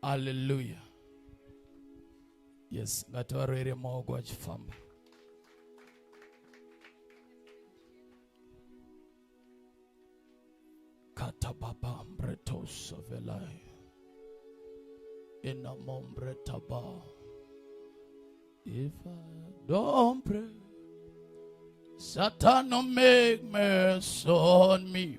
Hallelujah. Yes, ngativaroere maoko achifamba. Katababa mbretos avelai. Inamo mbretaba. If I don't pray, Satan will make mess on me.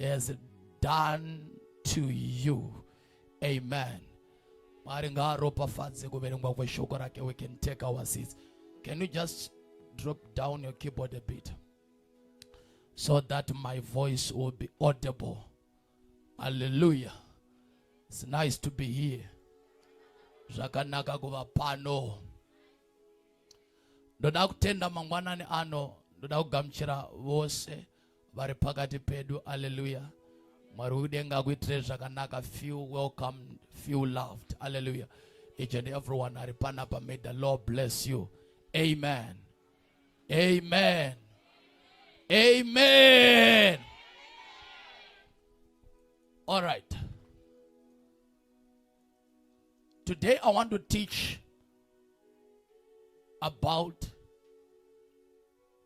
has done to you amen mwari ngaaropafadze kuverengwa kweshoko rake we can take our seats can you just drop down your keyboard a bit so that my voice will be audible hallelujah it's nice to be here zvakanaka kuva pano ndoda kutenda mangwanani ano ndoda kugamuchira vose vari pakati pedu aleluya mwari wekudenga akuitire zvakanaka feel welcome feel loved aleluya each and everyone ari panapa may the lord bless you amen amen amen all right today i want to teach about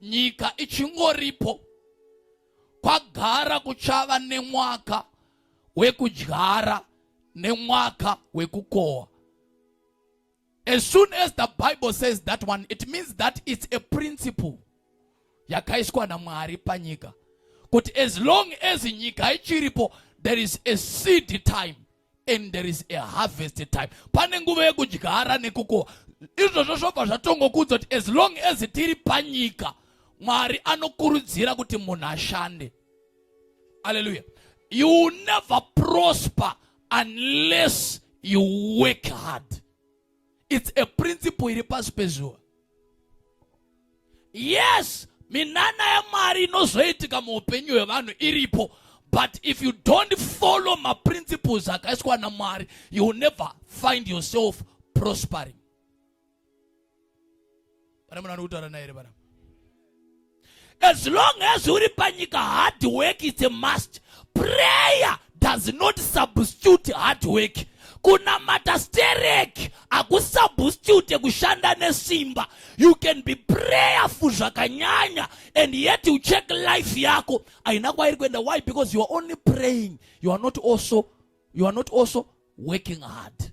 nyika ichingoripo kwagara kuchava nemwaka wekudyara nemwaka wekukohwa as soon as the bible says that one it means that it's a principle yakaiswa namwari panyika kuti as long as nyika ichiripo there is a seed time and there is a harvest time pane nguva yekudyara nekukohwa izvozvo zvobva zvatongokudza kuti as long as tiri panyika mwari anokurudzira kuti munhu ashande aleluya you will never prosper unless you work hard its a principle iri pasi pezuva yes minana yamwari inozoitika muupenyu hwevanhu iripo but if you don't follow maprinciples akaiswa namwari you will never find yourself prospering pane munhu anokutaura naye here panapa as long as uri panyika hard work is a must prayer does not substitute hard work kunamata sterek hakusubstitute kushanda nesimba you can be prayerful zvakanyanya and yet you check life yako haina kwairi kuenda why because you are only praying you are not also you are not also working hard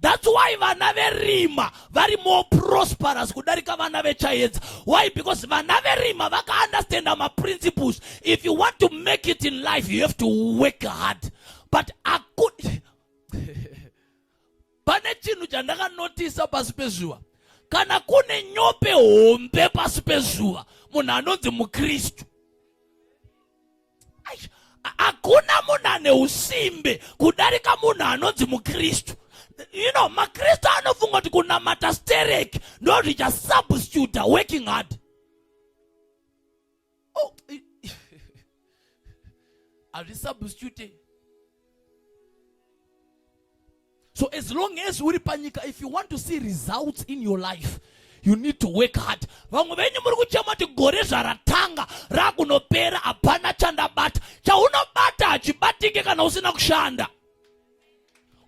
That's why vana verima vari more prosperous kudarika vana vechayedza. Why? Because vana verima vaka understand our principles. If you want to make it in life, you have to work hard. But I could pane chinhu chandakanotisa pasi pezuva kana kune nyope hombe pasi pezuva munhu anonzi mukristu hakuna munhu ane usimbe kudarika munhu anonzi mukristu you know makristu anofunga kuti kunamata sterek ndo zvichasubstituta working hard oh, hazvisubstitute So as long as uri panyika, if you want to see results in your life, you need to work hard. Vamwe venyu muri kuchema kuti gore zvaratanga rakunopera hapana chandabata. Chaunobata hachibatike kana usina kushanda.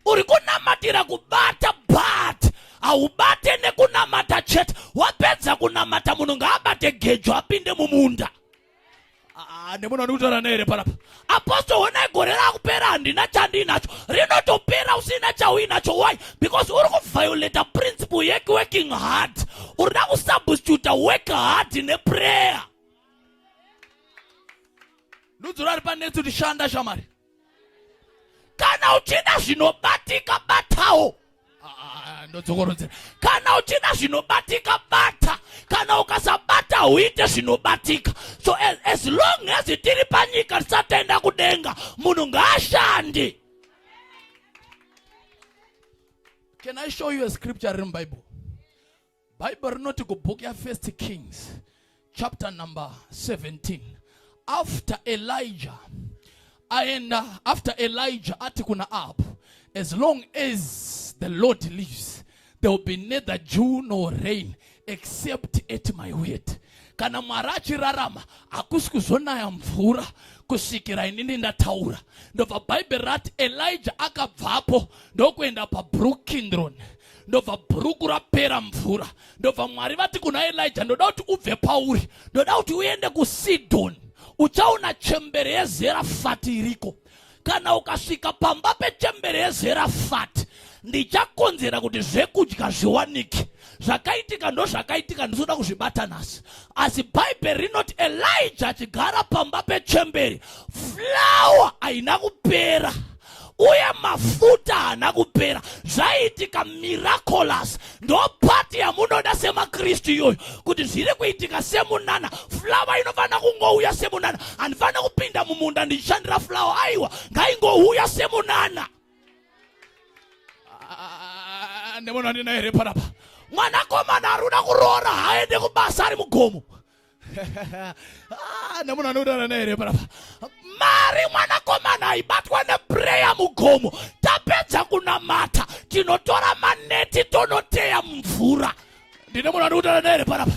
Uri kunamatira kubata but haubate nekunamata chete. Wapedza kunamata munhu ngaabate gejo apinde mumunda. Ah, nemunhu andiutaura neere panapa apostle honai gore rakupera handina chandiinacho rinotopera usina chauinacho why because uri kuviolata principle yekuworking hard uri da kusubstituta work hard neprayer ndudzura ari panetsi kuti shanda shamari kana uchida zvinobatika batawo ah, ndodzokorodzera kana uchida zvinobatika bata kana ukasabata huite zvinobatika so as, as long as tiri panyika tisatoenda kudenga munhu ngaashande can i show you a scripture riri mubible bhaibheri rinoti kubhuku yafirst kings chapter number 17 after elijah aenda after elijah ati kuna ahabu as long as the lord lives there will be neither dew nor rain except at my word kana mwari achirarama hakusi kuzonaya mvura kusvikira inini ndataura ndobva bhaibheri rati elijah akabvapo ndokuenda pabrook kindron ndobva bhuruku rapera mvura ndobva mwari vati kuna elija ndoda kuti ubve pauri ndoda kuti uende kusidhoni uchaona chembere yezerafati iriko kana ukasvika pamba pechembere yezerafati ndichakonzera kuti zvekudya zviwanike zvakaitika ndozvakaitika ndizoda kuzvibata nhasi asi bhaibheri rinoti elija achigara pamba pechemberi flawa haina kupera uye mafuta haana kupera zvaiitika miraculous ndopati yamunoda semakristu iyoyo kuti zviri kuitika semunana flawa inofanira kungouya semunana handifanira kupinda mumunda ndichishandira flawa aiwa ngaingouya semunana ah, nemunhu andina here panapa mwanakomana aruna kuroora haaende kubasa ari mugomo Ah, nemunhu anodana naye here parapa mari mwanakomana aibatwa nepureya mugomo tapedza kunamata tinotora maneti tonoteya mumvura ndine munhu anodana naye here parapa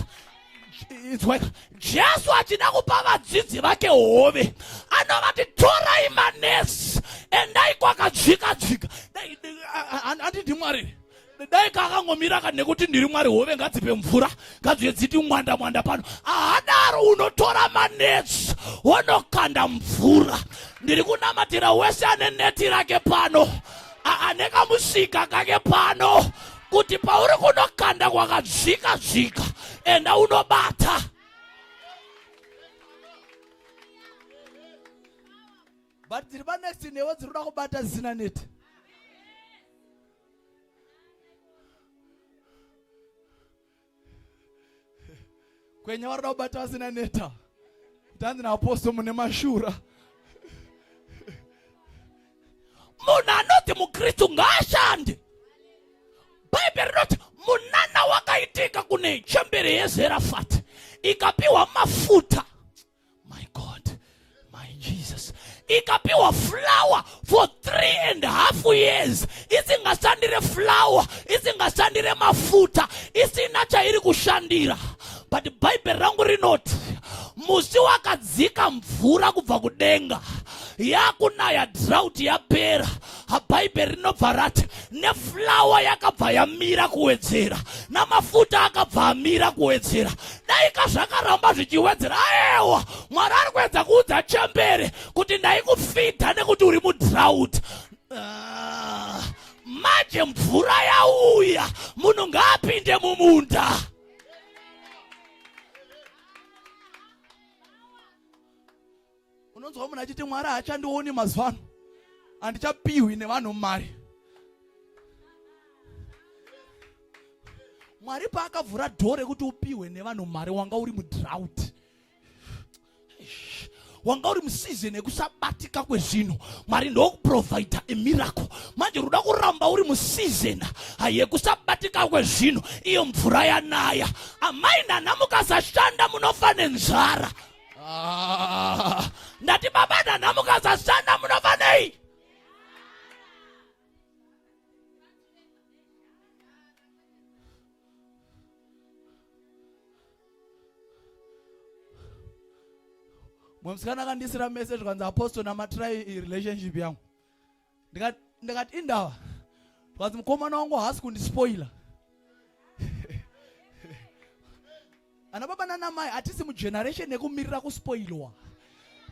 inzwaika jesu achida kupa vadzidzi vake hove anovati torai manesi endai kwakadzvika dzvika andidi mwari dai kakangomira ka nekuti ndiri mwari hove ngadzipe mvura ngadziye dziti mwanda mwanda pano ahadaro unotora manetsi wonokanda mvura ndiri kunamatira wese ane neti rake pano ane kamusika kake pano kuti pauri kunokanda kwakadzika dzika enda unobata but dziri panext newe dziri kuda kubata zina neti kwenya varida kubata vasina neta tanzi naaposto mune mashura munhu anoti mukristu ngaashande bhaibheri rinoti munana wakaitika kune chembere yezerafati ikapiwa mafuta my god my jesus ikapiwa flower for three and half years isingashandire flower isingashandire mafuta isina chairi kushandira but bhaibheri rangu rinoti musi wakadzika mvura kubva kudenga yakunaya drought yapera bhaibheri rinobva rati neflawa yakabva yamira kuwedzera namafuta akabva amira kuwedzera daika zvakaramba zvichiwedzera aewa mwari ari kuedza kuudza chembere kuti ndaikufidha nekuti uri mudrout uh, ah, manje mvura yauya munhu ngaapinde mumunda unonzwa munhu achiti mwari haachandioni mazuva ano handichapihwi nevanhu mari mwari paakavhura dhoo rekuti upihwe nevanhu mari wanga uri mudrout wanga uri musizini yekusabatika kwezvinhu mwari ndokuprovidha emiracle manje ruda kuramba uri musizini yekusabatika kwezvinhu iyo mvura yanaya amai nana mukasashanda munofa nenzara Ah, ndati baba nhanha mukasashanda munofa nei mumwe musikana akandisira message kwanzi apostle namatirai relationship yangu ndikati ndikati indava zvikanzi mukomana wangu haasi kundispoila ana baba nanamai hatisi mugeneration yekumirira kuspoilwa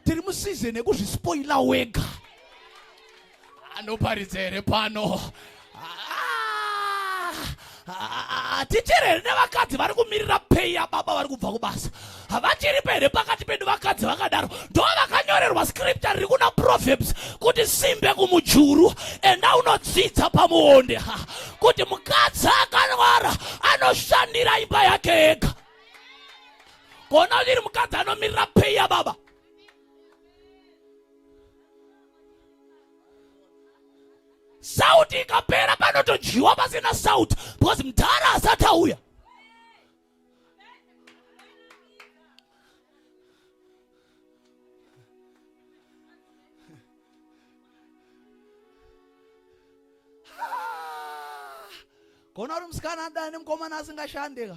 tiri musizeni yekuzvispoila wega anoparidza here pano tichere here nevakadzi vari kumirira pei yababa vari kubva kubasa havachiripo here pakati pedu vakadzi vakadaro ndo vakanyorerwa scripture riri kuna proverbs kuti simbe kumujuru enda unodzidza pamuonde kuti mukadzi akanwara anoshandira imba yake ega kona iri mukadzi anomirira pei yababa Salt ikapera panotodyiwa pasina salt because mdhara asati auya. Kona uri musikana adana nemukomana asingashande ka.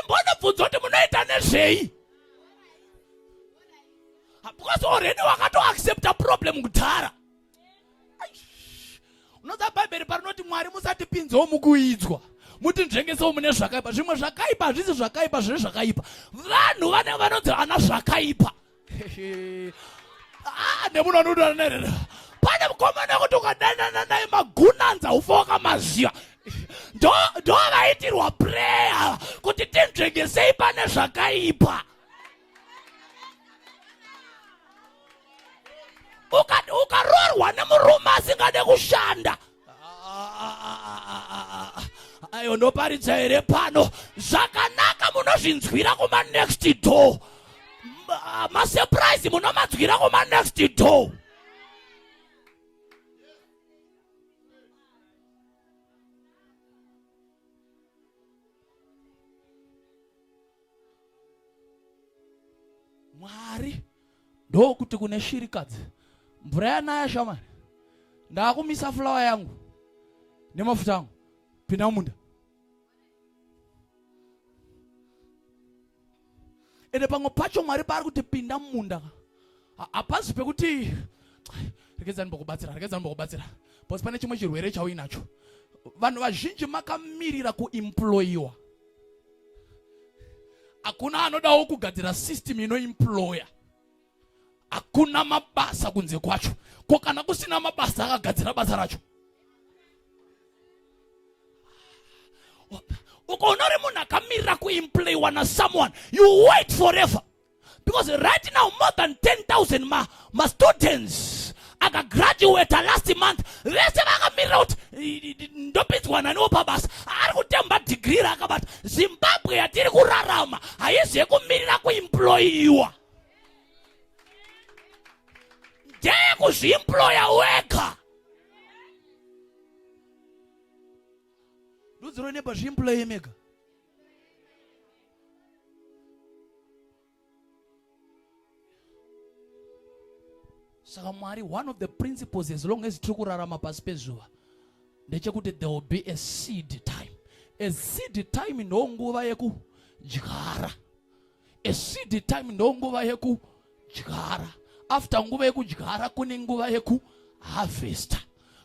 imbonobvunza kuti munoita nezvei because already wakatoaccepta problem kudhara unoza bhaibheri parinoti mwari musatipinzewo mukuidzwa muti nzvengesewo mune zvakaipa zvimwe zvakaipa hazvisi zvakaipa zvine zvakaipa vanhu vane vanonzi ana zvakaipa Ah, nemuno anoda nerera pane mukomana kuti ukadanana naye magunanza ufa wakamaziva ndo ndo vaitirwa prayer kuti tinzvengesei pane zvakaipa ukaroorwa nemurume asingade kushanda uka ayo ndoparidza here pano zvakanaka munozvinzwira kuma next door masurprise munomadzwira kuma next door mwari ndokuti kune shirikadzi mvura yanaya shamwari ndakumisa fulawa yangu nemafuta angu pinda mumunda ende pamwe pacho mwari paari kuti pinda mumunda hapazi pekuti regedzani mbokubatsira regedzani mbokubatsira bcause pane chimwe chirwere chauinacho vanhu vazhinji makamirira kuimployiwa hakuna anodawo kugadzira system inoimploya hakuna mabasa kunze kwacho ko kana kusina mabasa akagadzira basa racho ukaona uri munhu akamirira kuimplayiwa na someone you wait forever because right now more than 10000 ma, ma students akagraduata last month vese vakamirira kuti ndopinzwa naniwo pabasa ari kutemba dhigiri raakabata zimbabwe yatiri kurarama haizi yekumirira kuimployiwa ndeyekuzviimploya wega ndudziro neba zviimploye mega saka mwari one of the principles as long as tiri kurarama pasi pezuva ndechekuti there will be a seed time a seed time ndonguva yekudyara A seed time ndonguva yekudyara. After nguva yekudyara kune nguva yeku harvester.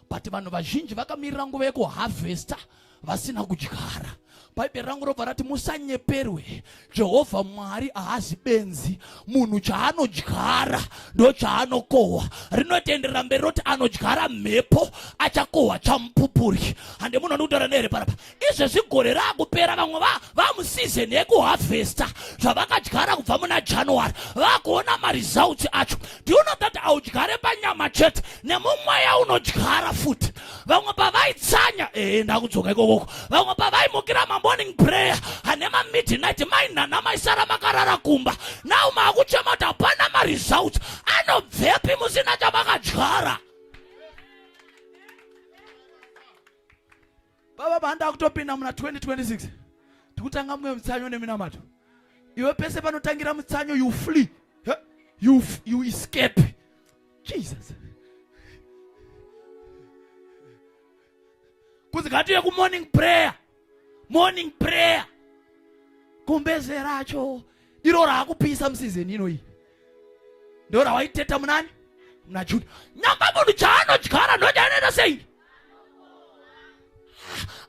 But vanhu vazhinji vakamirira nguva yeku harvester vasina kudyara. Bhaibheri rangu robva rati musanyeperwe. Jehovha Mwari haazi benzi. Munhu chaanodyara ndochaanokohwa. Rinotenderera mberi roti anodyara mhepo achakohwa chamupupuri. Hande munhu anokutaura nehere parapa. izvezvi gore raakupera vamwe vamusizeni yekuhavhesta zvavakadyara kubva muna january vakuona maresults acho do you know that audyare panyama chete nemumweya unodyara futi vamwe pavaitsanya ee ndakudzoka ikokoko vamwe pavaimukira mamorning prayer hane mamidnight mainhana maisara makarara kumba now maakuchema kuti hapana maresults anobvepi musina chamakadyara baba banda kutopinda muna 2026 tikutanga mumwe mutsanyo neminamato iwe pese panotangira mutsanyo you flee you, you escape jesus kunzi ngatiye kumorning prayer morning prayer kumbeze racho iro raakupisa musizeni inoyi ndo rawaiteta munani muna juni nyamba munhu chaanodyara ndodyanoita sei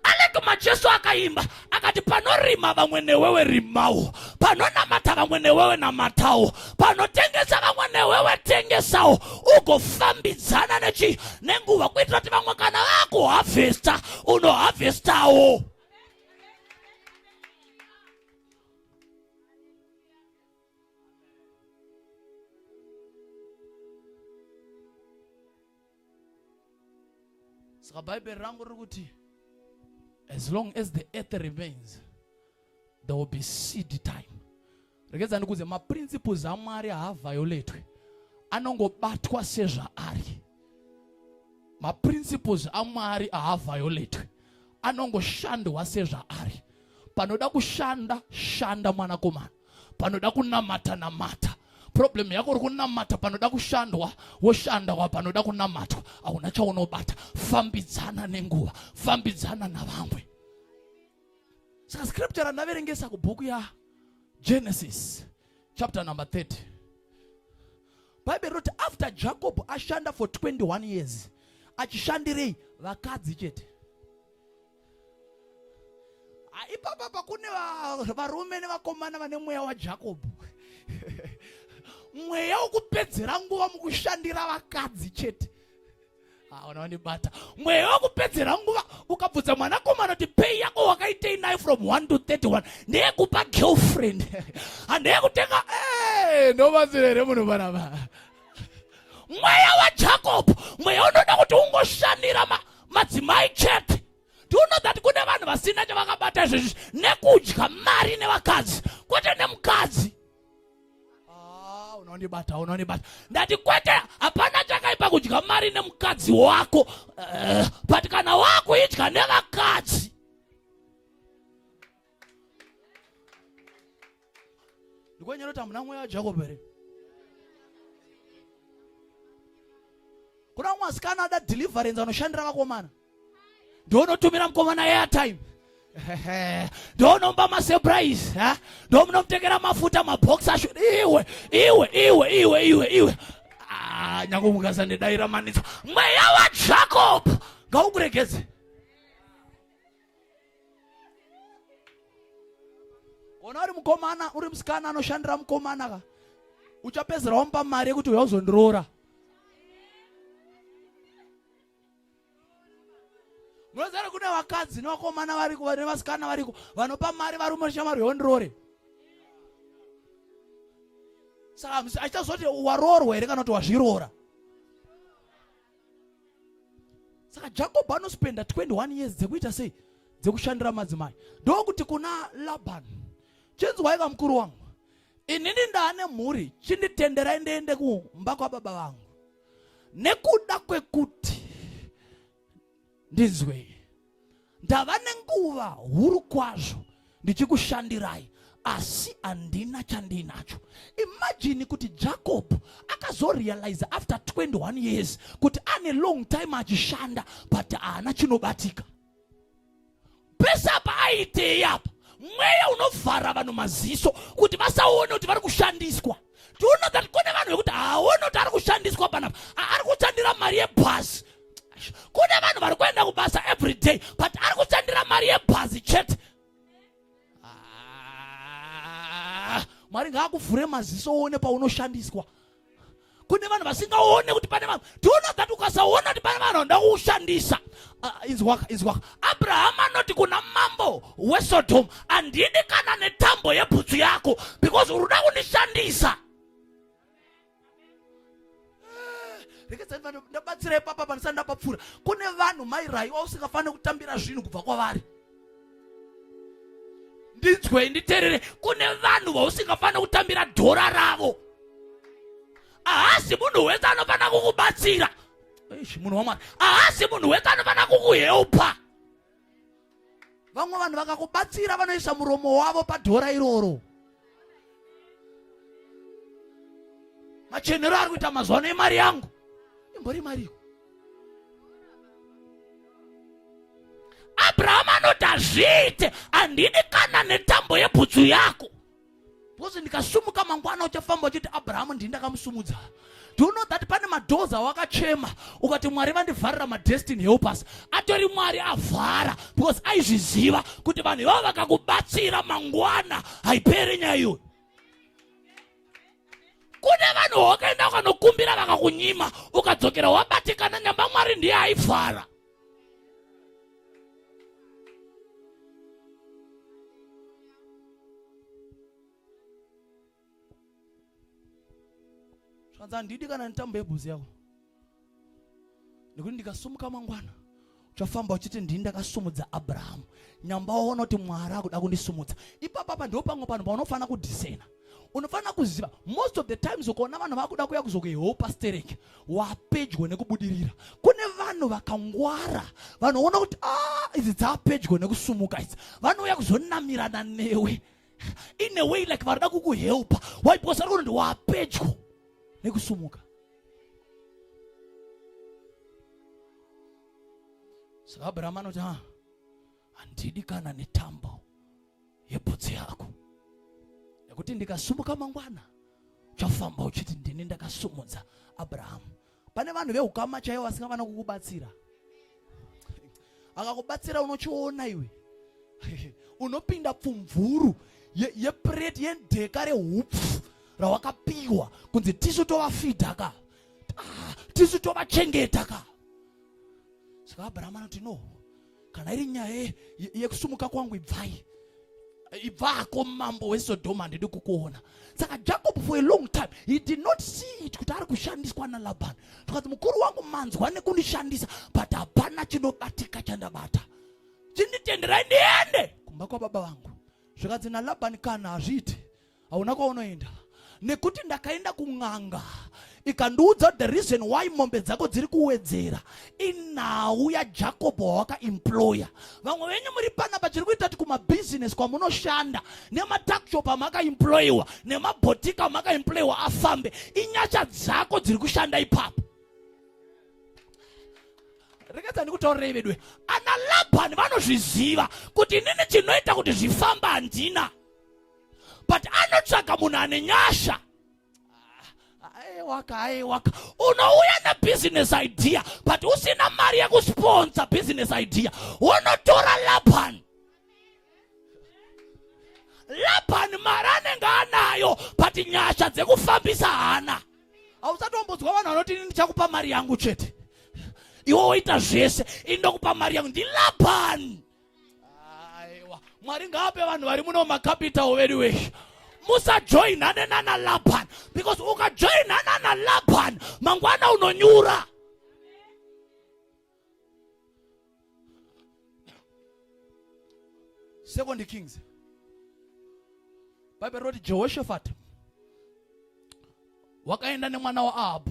anekuma jesu akaimba akati panorima vamwe newewe rimawo panonamata vamwe newewe namatawo panotengesa vamwe newewe tengesawo ugofambidzana nechi nenguva kuitira kuti vamwe kana vakuhavhesta unohavhestawo saka bhaibheri rangu riri kuti as long as the earth remains there will be seed time rekedza ndikuudze maprinciples amwari haavhioletwe anongobatwa sezvaari maprinciples amwari haavhioletwe anongoshandwa sezvaari panoda kushanda shanda mwanakomana panoda kunamata namata problem yako uri kunamata panoda kushandwa woshanda wa panoda kunamatwa hauna chaunobata fambidzana nenguva fambidzana navamwe saka scripture randaverengesa kubhuku ya genesis chapter number 30 bhaibheri roti after jacob ashanda for 21 years achishandirei vakadzi chete Ah, ipapa pakune varume nevakomana vane mweya wajakobho mweya wokupedzera nguva mukushandira vakadzi chete aona ah, wandibata mweya wokupedzera nguva ukabvudza mwanakomana kuti pei yako wakaitei nayo from 1 to 31 ndeyekupa girlfriend handeyekutenga ah, eh, ndobatsira here munhu panapa mweya wajacob mweya unoda kuti ungoshandira ma, madzimai chete do you know that kune vanhu vasina chavakabata izvezvi nekudya mari nevakadzi kwete nemukadzi ah, unondibata unondibata ndati kwete hapana chakaipa kudya mari nemukadzi wako uh, but kana wakuidya nevakadzi ndikwenyera kuti hamuna mweya wajakobo here kuna umwe asikana ada deliverance anoshandira vakomana ndoonotumira mukomana airtime ndoonomba masurprise ndoomunomutekera mafuta mabox asho iwe iwe iwe iwe iwe iwe ah, nyange mukasa nedaira manitsa mweya wajacob ngaukuregedze ona uri mukomana uri musikana anoshandira mukomana ka uchapedzera wamupa mari yekuti uya uzondiroora munozara kune vakadzi nevakomana variko vane vasikana variko vanopa mari varume vashamari yondiroore saka achichazoti waroorwa here kana kuti wazviroora saka jakobho anospenda 21 years dzekuita sei dzekushandira madzimai ndokuti kuna labani chinzwaika mukuru wangu inini ndaane mhuri chinditenderai ndiende kumba kwababa vangu nekuda kwekuti ndinzwei ndava nenguva huru kwazvo ndichikushandirai asi handina chandiinacho imajini kuti jacob akazorealiza after 21 years kuti ane long time achishanda but haana chinobatika pese apa aitei apa mweya unovhara vanhu maziso kuti vasaone kuti vari kushandiswa tiona that kune vanhu vekuti haaone kuti ari kushandiswa panapa ari kushandira mari yebhazi kune vanhu vari kuenda kubasa every day but ari kushandira mari yebhazi chete ah, mwari ngaakuvhure maziso uone paunoshandiswa kune vanhu vasingaone kuti pane vanhu tiunogati ukasaona kuti pane vanhu vanoda kuushandisa ah, inzwaka inzwaka abrahama anoti kuna mambo wesodomu handidi kana netambo yebhutsu yako because uri kuda kundishandisa rekedzavanhu ndabatsira ipapa pandisati ndapapfuura kune vanhu mairai wausingafanire kutambira zvinhu kubva kwavari ndinzwei nditerere kune vanhu vausingafanira kutambira dhora ravo ahasi munhu wese anofanira kukubatsira munhu wamwari ahasi munhu wese anofanira kukuheupa vamwe vanhu vakakubatsira vanoisa muromo wavo padhora iroro machenero ari kuita mazuva ano emari yangu imbori mariyo abrahamu anoti hazviite handidi kana netambo yebhutsu yako because ndikasumuka mangwana uchafamba uchiti abrahamu ndini ndakamusumudza Do you know that pane madoors awakachema ukati Mwari vandivharira madestiny helpers atori Mwari avhara because aizviziva kuti vanhu ivavo vakakubatsira mangwana haiperi nyaya iyoyo kune vanhu wakaenda ukanokumbira vakakunyima ukadzokera wabatikana nyamba Mwari ndiye aivhara zvanzi handidi kana netambo yebhuzi yako nekuti ndikasumuka mangwana uchafamba uchiti ndini ndakasumudza abrahamu nyamba waona kuti mwari akuda kundisumudza ipapapa ndo pamwe panhu paunofanira kudhisena unofanira kuziva most of the times ukaona vanhu vakuda kuya kuzokuheopa stereki wapedyo nekubudirira kune vanhu vakangwara vanoona kuti a ah, idzi dzaapedyo nekusumuka idzi vanouya kuzonamirana newe in a way like varida kukuhelpa why because vari kuti wapedyo nekusumuka saka abrahama anoti ha handidi kana netambo yebhutsu yako nekuti ndikasumuka mangwana uchafamba uchiti ndini ndakasumudza abrahamu pane vanhu vehukama chaivo vasingavana kukubatsira akakubatsira unochiona iwe unopinda pfumvuru yepureti ye yedheka rehupfu rawakapiwa kunzi tisu tovafidha ka ah, tisu tovachengeta ka saka abrahama anoti no kana iri nyaya yekusumuka kwangu ibvai ibvako mambo wesodoma handidi kukuona saka jacob for a long time he did not see it kuti ari kushandiswa nalabhani zvikanzi mukuru wangu manzwa nekundishandisa but hapana chinobatika chandabata chinditenderai ndiende kumba kwababa vangu zvikanzi nalabhani kana hazviiti hauna kwaunoenda nekuti ndakaenda kun'anga ikandiudza the reason why mombe dzako dziri kuwedzera inhau yajacob wawakaemploya vamwe venyu muri panapa chiri kuita kuti kumabhizinesi kwamunoshanda nematakshop amakaemployiwa nemabhotika amakaemployiwa afambe inyasha dzako dziri kushanda ipapo rekedza ndikutaurira ivedwe ana labhani vanozviziva kuti inini chinoita kuti zvifamba handina but anotsvaga munhu ane nyasha aiwaka aiwaka unouya nebusiness idea but usina mari yekusponsa business idea wonotora laban laban mari anenge anayo but nyasha dzekufambisa hana hausatombodzwa vanhu vanoti ini ndichakupa mari yangu chete iwe woita zvese ini ndokupa mari yangu ndilaban aiwa mwari ngaape vanhu vari muno makapitawo vedu weshe musajoinane nana laban because ukajoinana nalaban mangwana unonyura second kings bhaibheri roti jehoshafati wakaenda nemwana waahabhu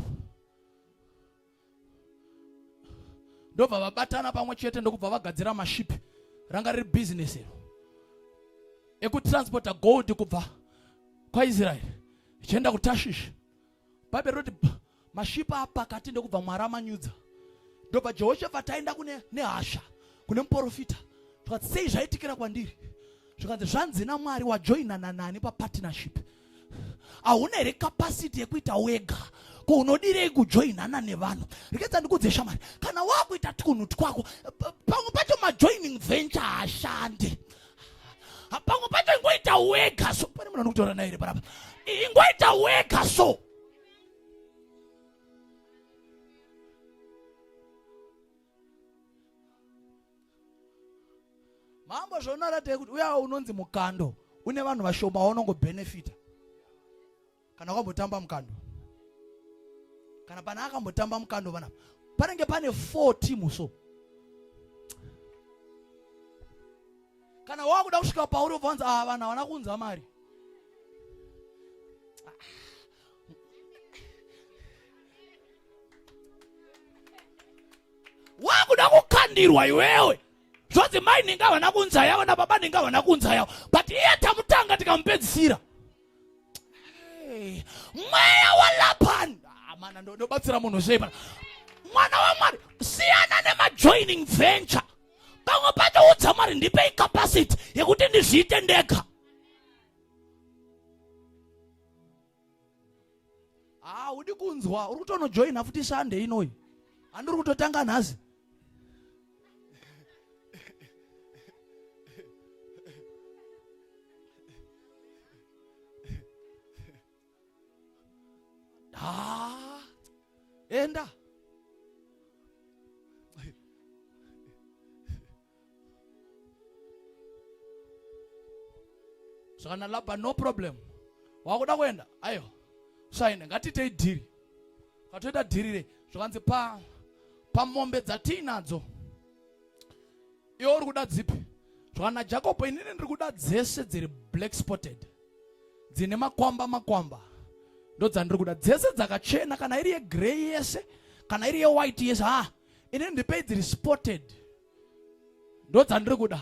ndobva vabatana pamwe chete ndokubva vagadzira maship ranga riri business iro ekutransporta gold kubva kwaisraeri ichienda kutashishi bhaibheri roti mashipa apakati ndokubva mwari amanyudza ndobva jehoshafati aenda kune nehasha kune muporofita zvikati sei zvaitikira kwandiri zvikanzi zvanzi namwari wajoinana nani papartnership hauna here kapasiti yekuita wega ko unodirei kujoinana nevanhu rekedza ndikudze shamari kana wakuita twunhu twako pamwe pacho majoining venture hashande pamwe pacho ingoita wega so pane munhu anokutaura naye here parapa ingoita wega so mambo zvaunoratei kuti uyawo unonzi mukando une vanhu vashoma waunongobhenefita kana wakambotamba mukando kana pana akambotamba mukando vanapa panenge pane four timu so kana wakuda kusvika pauri ubva wanzi ava ah, vanhu havana kunza mari wakuda kukandirwa iwewe zvozi mai ninga havana kunza yavo nababa ninga havana kunza yavo but iye tamutanga tikamupedzisira mweya walapani ah, mana ndobatsira munhu sei mana mwana wamwari siyana nemajoining venture pamwe pacho udza mwari ndipe icapacity yekuti ndizviite ndega haa udi kunzwa uri kutonojoina futi sande inoyi handiri kutotanga nhasi haa enda saka nalabha no problem wakuda kuenda aiwa saine ngatiitei dhiri katoita dhiri re zvakanzi pa pamombe dzatiinadzo iwe uri kuda dzipi zvakana jakobo inini ndiri kuda dzese dziri black spotted dzine makwamba makwamba ndodzandiri kuda dzese dzakachena kana iri yegrey yese kana iri yewhite yese ha ini ndipei dziri spotted ndo dzandiri kuda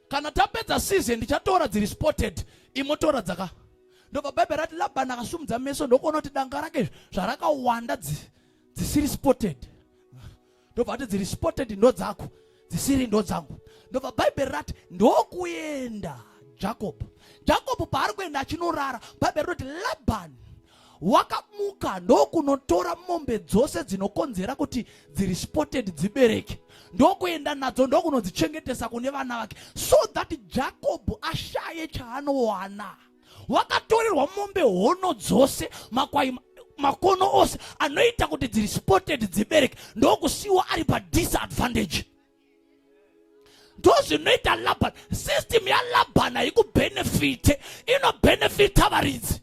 kana tapedza season ndichatora dziri spotted imotora dzaka ndobva bhaibheri rati labani akasumudza meso ndokuona kuti danga rake zvarakawanda dzisiri spotted ndobva ati dziri spotted ndo dzako dzisiri ndo dzangu ndobva bhaibheri rati ndokuenda jacob jacob paari kuenda achinorara bhaibheri roti labani wakamuka ndokunotora mombe dzose dzinokonzera kuti dziri spotted dzibereke ndokuenda nadzo ndokunodzichengetesa kune vana vake so that jakobho ashaye chaanowana wakatorerwa mombe hono dzose makwai makono ose anoita kuti dziri spotted dzibereke ndokusiwa ari padisadvantage ndozvinoita laban system yalaban haikubenefite inobenefita varidzi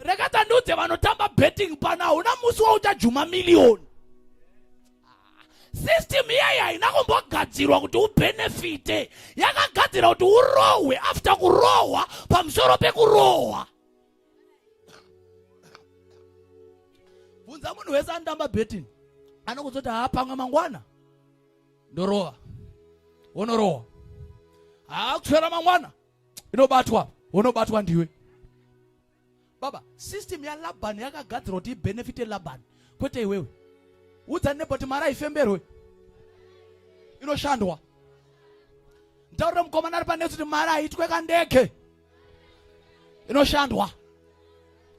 rega tandiudze vanotamba betting pana hauna musi wauchajuma miriyoni system iyayi haina kumbogadzirwa kuti ubenefite yakagadzira kuti urohwe after kurohwa pamusoro pekurohwa bvunza munhu wese anotamba betting anokuzoti haa pamwe mangwana ndorova wonorowa haa kusvera mangwana inobatwa wonobatwa ndiwe baba system yalabhani yakagadzirwa kuti ibenefite labhani kwete iwewe udza nebo kuti mari haifemberwe inoshandwa ntaurire mukomana ari panetsi kuti mari haitwe kandege inoshandwa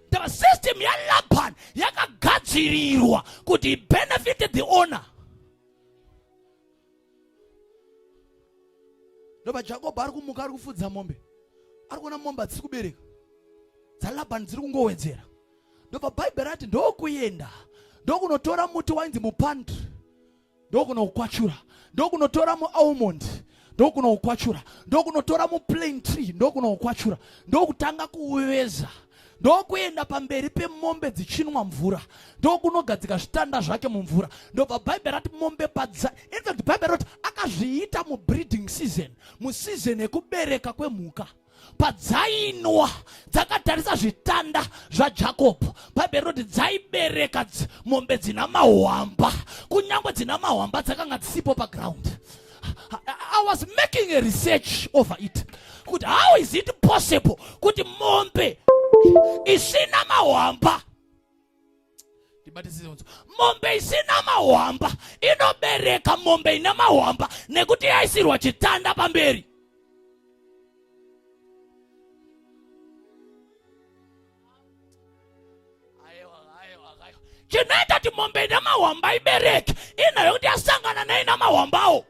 the system yalaban yakagadzirirwa kuti ibenefite the owner ndoba jakobo ari kumuka ari kufudza mombe ari kuona mombe hadzisi kubereka dzalabani dziri kungowedzera ndobva bhaibheri rati ndokuenda ndokunotora muti wainzi mupandri ndokunokwachura ndokunotora mualmond ndokunokwachura ndokunotora muplain tree ndokunokwachura ndokutanga kuuveza ndokuenda pamberi pemombe dzichinwa mvura ndokunogadzika zvitanda zvake mumvura ndobva bhaibheri rati mombe padza infact bhaibheri roti akazviita mubreeding season museason yekubereka kwemhuka padzainwa dzakatarisa zvitanda zvajakobho bhaibheri rinoti dzaibereka mombe dzina mahwamba kunyange dzina mahwamba dzakanga dzisipo paground i was making a research over it kuti how is it possible kuti mombe isina mahwamba ndibatisise mombe isina mahwamba inobereka mombe ina mahwamba nekuti yaisirwa chitanda pamberi chinoita kuti mombe ina mahwamba ibereke inayo kuti yasangana neina mahwambawo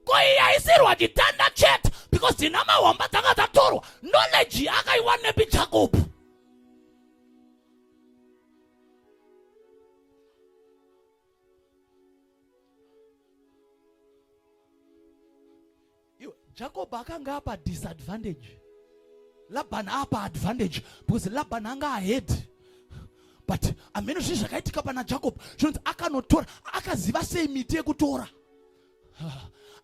ko iyaisirwa chitanda chete because dzina mahwamba dzanga dzatorwa knowledge akaiwanepi jakobu jacob akanga apa disadvantage labhan apa advantage because labhan anga ahead but ameno zvinhu zvakaitika pana jacob zvinonzi akanotora akaziva sei miti yekutora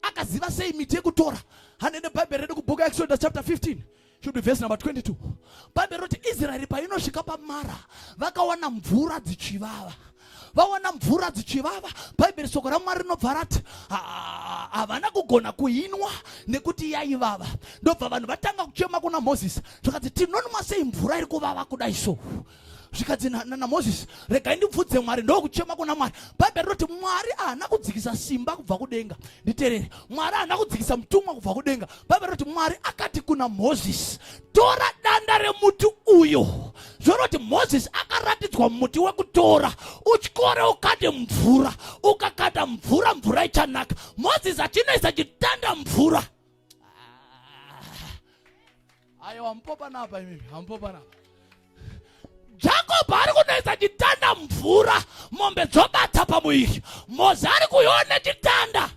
akaziva sei miti yekutora hanene bhaibheri redu kubhuku exodus chapter 15 should be verse number 22 bhaibheri roti israeri painosvika pamara vakawana mvura dzichivava vawana mvura dzichivava bhaibheri soko ramwari rinobva rati havana kugona kuinwa nekuti yaivava ndobva vanhu vatanga kuchema kuna mozisi zvakanzi tinonwa sei mvura iri kuvava kudai so zvikanzi namozisi regai ndibvudze mwari ndokuchema kuna mwari bhaibheri rinoti mwari haana kudzikisa simba kubva kudenga nditerere mwari haana kudzikisa mutumwa kubva kudenga bhaibheri rinoti mwari akati kuna mozisi tora danda remuti uyu zvoroti mozisi akaratidzwa muti wekutora utyore ukade mvura ukakada mvura mvura ichanaka mozisi achinoisa chitanda mvura ayo hamupopanapa imimi hamupopanapa jakobho ari kunoisa chitanda mvura mombe dzobata pamuviri mozi ari kuiona chitanda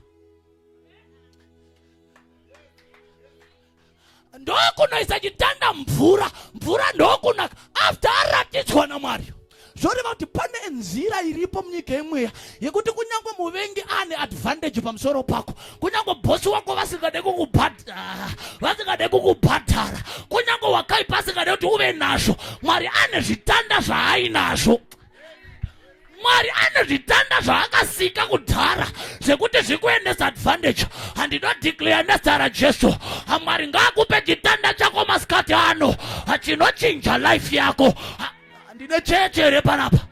ndokunoisa chitanda mvura mvura ndokunaka after aratidzwa namwari zvoreva kuti pane nzira iripo munyika yemweya yekuti kunyange muvengi ane advantage pamusoro pako kunyange bhosi wako vasingade kukubhadhara vasingade kukubhadhara kunyange wakaipa asingade kuti uve nazvo mwari ane zvitanda zvaainazvo mwari ane zvitanda zvaakasika kudhara zvekuti zvikuendesa advantage handinodeclare nezita rajesu amwari ngaakupe chitanda chako masikati ano achinochinja life yako ha ndine chechi here panapa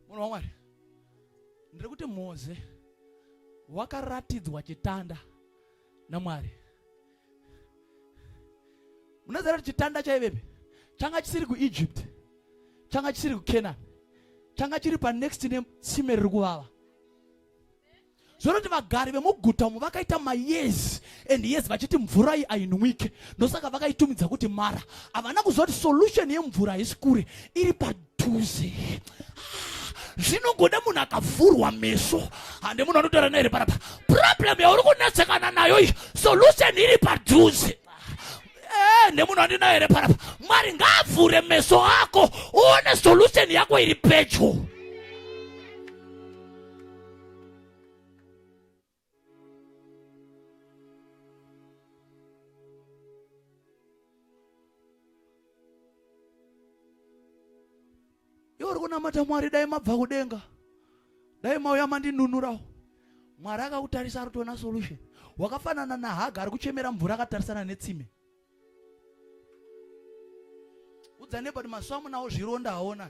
munhu wamwari ndiri kuti moze wakaratidzwa chitanda namwari munoziva kuti chitanda chaivepi changa chisiri kuegypt changa chisiri kucanaan changa chiri panext netsime riri kuvava zvoroti vagari vemuguta umu vakaita mayezi and yezi vachiti mvura iyi ainwike ndosaka vakaitumidza kuti mara havana kuziva kuti solution yemvura haisi kure iri padhuze zvinongoda munhu akavhurwa meso hande munhu anotaura naye parapa problem yauri kunetsekana nayo iyi solution iri padhuze eh, nemunhu andinayo here parapa mwari ngaavhure meso ako uone solution yako iri pedyo iwe uri kunamata mwari dai mabva kudenga dai mauya mandinunurawo mwari akakutarisa ari kutoona solution wakafanana nahaga ari kuchemera mvura akatarisana netsime udzane but maso amunawo zvironda haona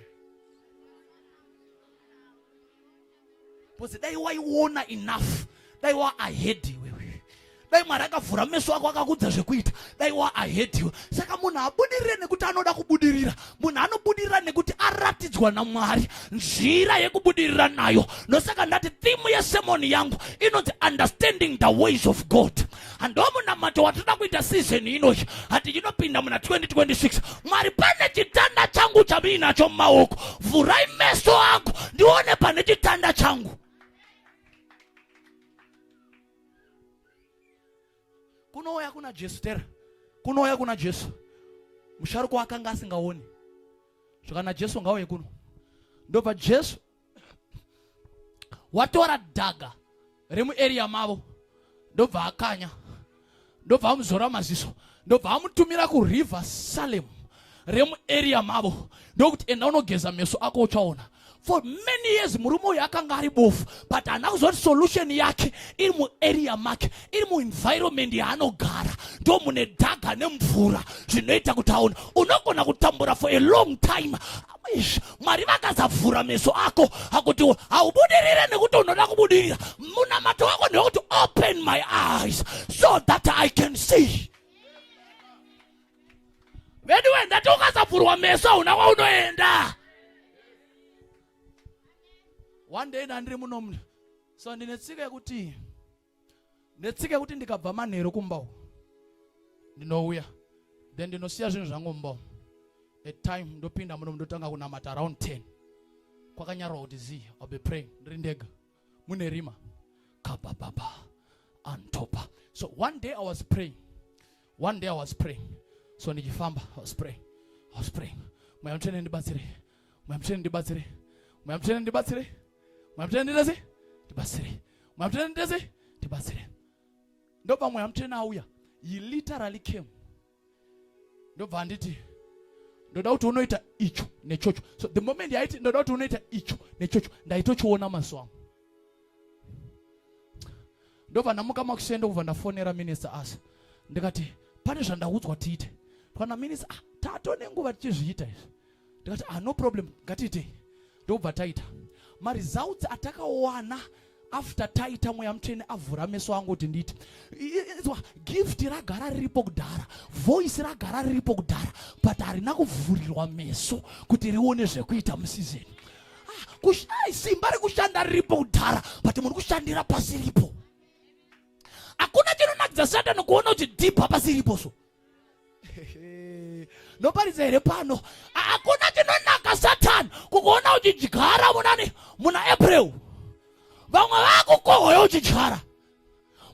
because dai waiona enough dai wa ahead iwewe dai mwari akavhura meso ako akakudza zvekuita dai wa ahead iwe saka munhu abudirire nekuti anoda kubudirira munhu anobudirira nekuti aratidzwa namwari nzira yekubudirira nayo ndosaka ndati thimu yesemoni yangu inonzi understanding the ways of god ndomunamato watinoda kuita sizeni inoyi hati chinopinda muna 2026 mwari pane chitanda changu chamiinacho mumaoko vhurai meso angu ndione pane chitanda changu kunouya kuna jesu tera kunouya kuna jesu musharuko akanga asingaoni zvakana jesu ngauye kuno ndobva jesu watora dhaga remuarea mavo ndobva akanya ndobva amuzora maziso ndobva amutumira kuriver salem remuarea mavo ndokuti enda unogeza meso ako uchaona for many years murume uyu akanga ari bofu but haana kuzoti solution yake iri muarea make iri muenvironment yaanogara ndo mune dhaga nemvura zvinoita kuti aona unogona kutambura for a long time mwari vakasavhura meso ako akuti haubudirire nekuti unoda kubudirira munamato wako ndewekuti open my eyes so that i can see vedu wendati ukasavhurwa meso hauna kwaunoenda one day ndandiri muno so ndine tsika yekuti netsika yekuti ndikabva manheru kumba uku ndinouya then ndinosiya zvinhu zvangu mumba umu a time ndopinda muno ndotanga kunamata around 10 kwakanyarwa kuti zi ill be praying ndiri ndega mune rima kabababa antopa so one day i was praying one day i was praying so ndichifamba i was praying i was praying mweya mutsvene ndibatsire mweya mutsvene ndibatsire mweya mutsvene ndibatsire mweya mutsvene nditese ndibatsire mweya mutsvene nditese ndibatsire ndobva mweya mutsvene auya he literally came ndobva anditi ndoda kuti unoita icho nechocho so the moment yaiti ndoda kuti unoita icho nechocho ndaitochiona maziso angu ndobva ndamuka makusendo kubva ndafonera minister asa ndikati pane zvandaudzwa tiite kana minister ah, tato nenguva tichizviita izvi ndikati ah, no problem ngatiitei ndokubva taita maresults atakawana after taita mweya mutsvene avhura meso angu kuti nditi izwa gift ragara riripo kudhara voice ragara riripo kudhara but harina kuvhurirwa meso kuti rione zvekuita musizeni kushai simba rekushanda riripo kudhara but muri kushandira pasiripo hakuna chinonakidza satani kuona kuti dhibha pasiripo so ndoparidza here pano hakuna chinonaka satani kukuona uchidyara munani muna april vamwe vakukohoya uchidyara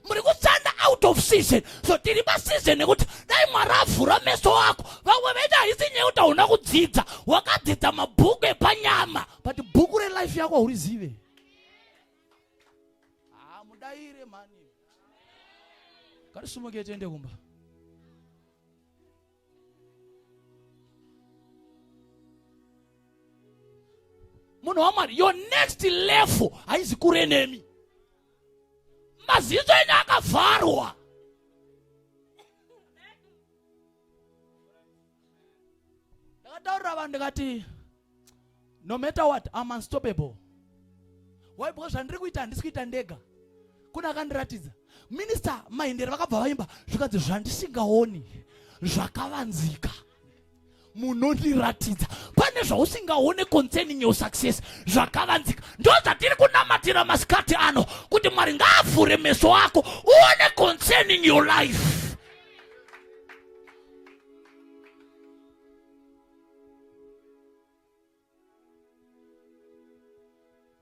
muri kutsanda out of season so tiri paseason yekuti dai mwari avhura meso ako vamwe vaita haisi nyaya yekuti hauna kudzidza wakadzidza mabhuku epanyama but bhuku relife yako haurizive hamudaire mhani ngatisumuke tiende kumba munhu wamwari your next level haizi kure nemi maziso enyu akavharwa ndakataurira vanhu ndikati no matter what I'm unstoppable why because zvandiri kuita handisi kuita ndega kune akandiratidza minista maendere vakabva vaimba zvikanzi zvandisingaoni zvakavanzika munondiratidza pane zvausingaone concerning your success zvakavanzika ndo zvatiri kunamatira masikati ano kuti mwari ngaavhure meso ako uone concerning your life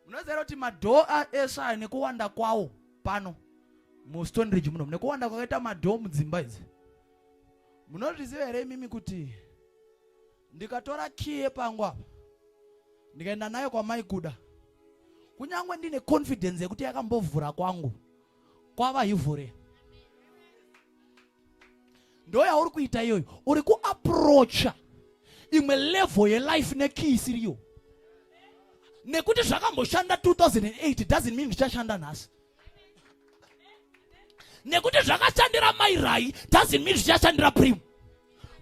munoziva kuti madhoo eshe ayo nekuwanda kwawo pano mustone ridge muno nekuwanda kwakaita madhoo mudzimba idzi munozviziva here imimi kuti ndikatora kii yepangu apa ndikaenda nayo kwamai kuda kunyange ndine confidence yekuti yakambovhura kwangu kwava hivhure ndo yauri kuita iyoyo uri kuaprocha imwe level yelife nekii isiriyo nekuti zvakamboshanda 2008 doesn't mean zvichashanda nhasi nekuti zvakashandira mairai doesn't mean zvichashandira prim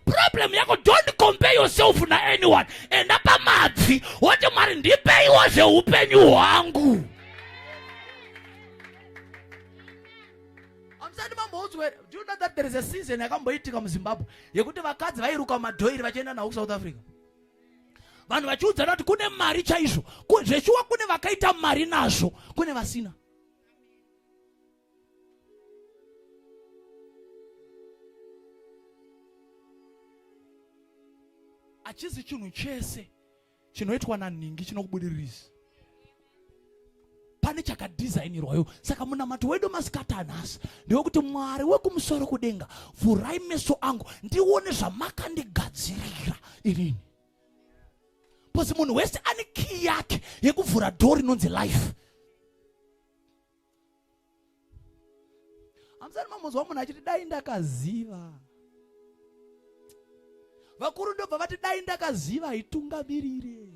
problem yako don't compare yourself na anyone enda pamabvi woti mwari ndipeiwo zveupenyu hwangu Amusati mamboudzwa here? Do you know that there is a season yakamboitika muZimbabwe yekuti vakadzi vairuka madhoiri vachienda nawo kuSouth Africa? Vanhu vachiudzana kuti kune mari chaizvo. Zveshuwa kune vakaita mari nazvo, kune vasina. Achizi chinhu chese chinoitwa nanhingi chinokubudiririsa pane chakadhizainirwayo saka munamato wedu masikati anhasi ndewekuti mwari wekumusoro kudenga vhurai meso angu ndione zvamakandigadzirira irini bcause munhu wese ane kii yake yekuvhura dho rinonzi life hamusati mamunzwa munhu achiti dai ndakaziva vakuru ndobva vati dai ndakaziva haitungamirire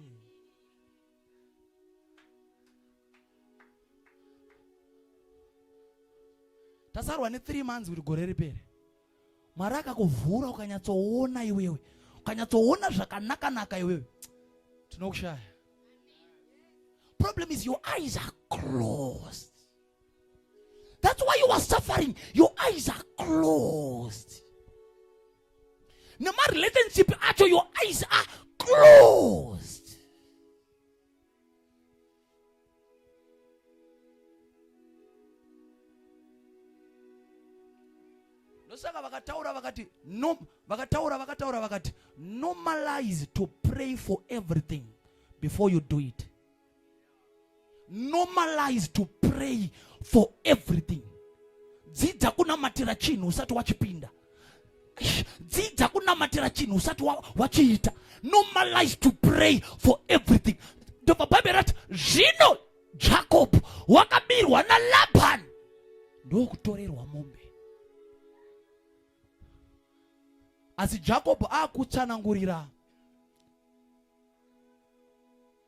tasarwa ne3 months kuti gore ripere mwari akakuvhura ukanyatsoona iwewe ukanyatsoona zvakanakanaka iwewe tinokushaya problem is your eyes are closed that's why you are suffering your eyes are closed nemarelationship acho your eyes are closed ndosaka vakataura vakati no vakataura vakataura vakati normalize to pray for everything before you do it normalize to pray for everything dzidza kunamatira chinhu usati wachipinda dzidza kunamatira chinhu usati wachiita normalize to pray for everything ndobva bhaibheri rati zvino jakobho wakabirwa nalabhani ndokutorerwa mombe asi jakobho akutsanangurira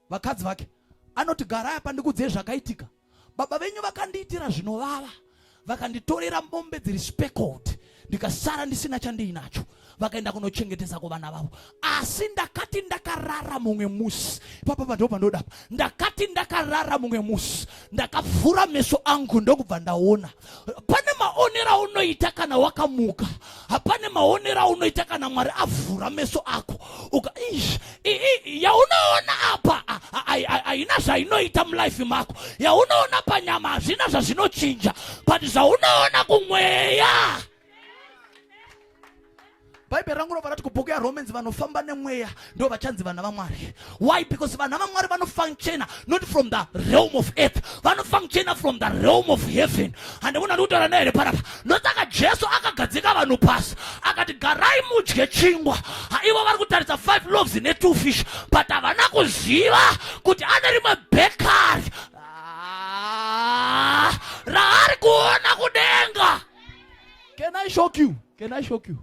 vakadzi vake anoti garai apa ndikuudzei zvakaitika baba venyu vakandiitira zvinovava vakanditorera mombe dziri speckled ndikasara ndisina chandiinacho vakaenda kunochengetesa kuvana vavo asi ndakati ndakarara mumwe musi papa pandoo pandodapa ndakati ndakarara mumwe musi ndakavhura meso angu ndokubva ndaona pane maonero aunoita kana wakamuka hapane maonero aunoita kana mwari avhura meso ako uka yaunoona apa haina zvainoita mulife mako yaunoona panyama hazvina zvazvinochinja but zvaunoona kumweya bhaibheri rangu rovara kuti kubhuku yaromans vanofamba nemweya ndo vachanzi vana vamwari why because vana vamwari vanofunctiona not from the realm of earth vanofunctiona from the realm of heaven hande munhu andikutaura nahere parapa ndosaka jesu akagadzika vanhu pasi akati garai mudye chingwa haivo vari kutaridza five loves netwo fish but havana kuziva kuti ane rimwe bekari ah, raari kuona kudenga Can I shock you? Can I shock you?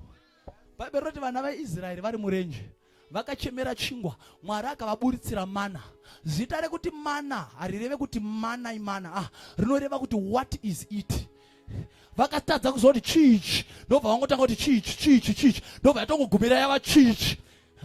Bhaibheri roti vana vaIsraeri vari murenje vakachemera chingwa mwari akavaburitsira mana zita rekuti mana harireve kuti mana imana ah, rinoreva kuti what is it vakatadza kuziva kuti chiichi ndobva vangotanga kuti chiichi chiichi chiichi ndobva yatongogumira yava chiichi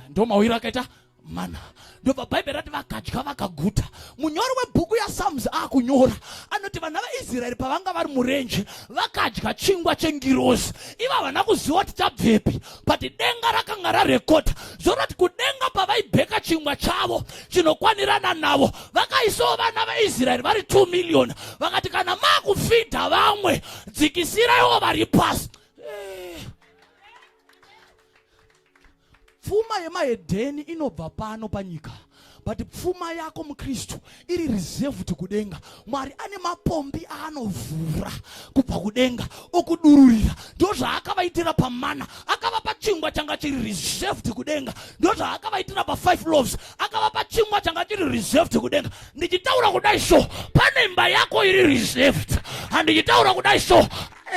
ndomawiro akaita mana ndobva bhaibheri rati vakadya vakaguta munyori webhuku yasalms akunyora anoti vana vaisraeri pavanga vari murenje vakadya chingwa chengirozi iva havana kuziva kuti chabvepi but denga rakanga rarekota zvoroti kudenga pavaibheka chingwa chavo chinokwanirana navo vakaisawo vana vaisraeri vari 2 million vakati kana makufidha vamwe dzikisiraiwo vari pasi pfuma yemahedheni inobva pano panyika but pfuma yako mukristu iri reserved kudenga mwari ane mapombi aanovhura kubva kudenga okudururira ndozvaakavaitira pamana akavapa chingwa changa chiri reserved kudenga ndozvaakavaitira pafive loves akavapa chingwa changa chiri reserved kudenga ndichitaura kudai so pane imba yako iri reserved handichitaura kudai so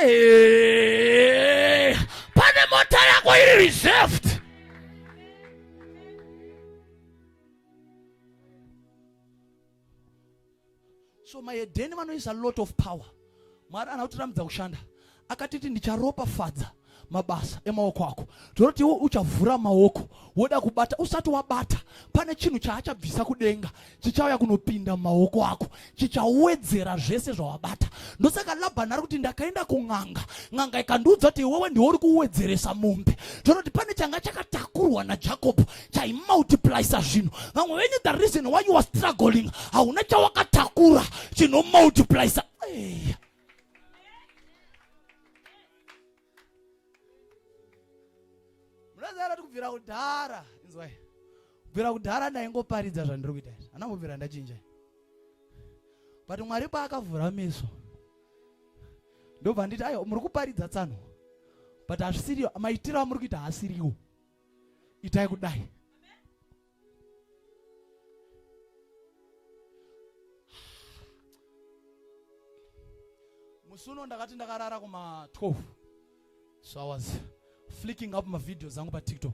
Eh, pane mota yako iri reserved so maedheni vanoisa lot of power mwari anotiramidza kushanda akatiti ndicharopafadza mabasa emaoko ako ndinoti iwe uchavhura maoko woda kubata usati wabata pane chinhu chaachabvisa kudenga chichauya kunopinda mumaoko ako chichawedzera zvese zvawabata ndosaka labhani ari kuti ndakaenda kun'anga n'anga ikandiudza kuti iwewe ndiwe uri kuwedzeresa mombe ndinoti pane changa chakatakurwa najakobho chaimultiplisa zvinhu vamwe venyu the reason why you are struggling hauna chawakatakura chinomultiplisa hey. munozara kuti kubvira kudhara inzwai kubvira kudhara ndaingoparidza zvandiri kuita izvi hana kubvira ndachinja but mwari paakavhura meso ndobva nditi ayo muri kuparidza tsano but hazvisiriyo maitiro amuri kuita haasiriwo itai kudai musi uno ndakati ndakarara kuma 12 so i was flicking up mavideos angu patiktok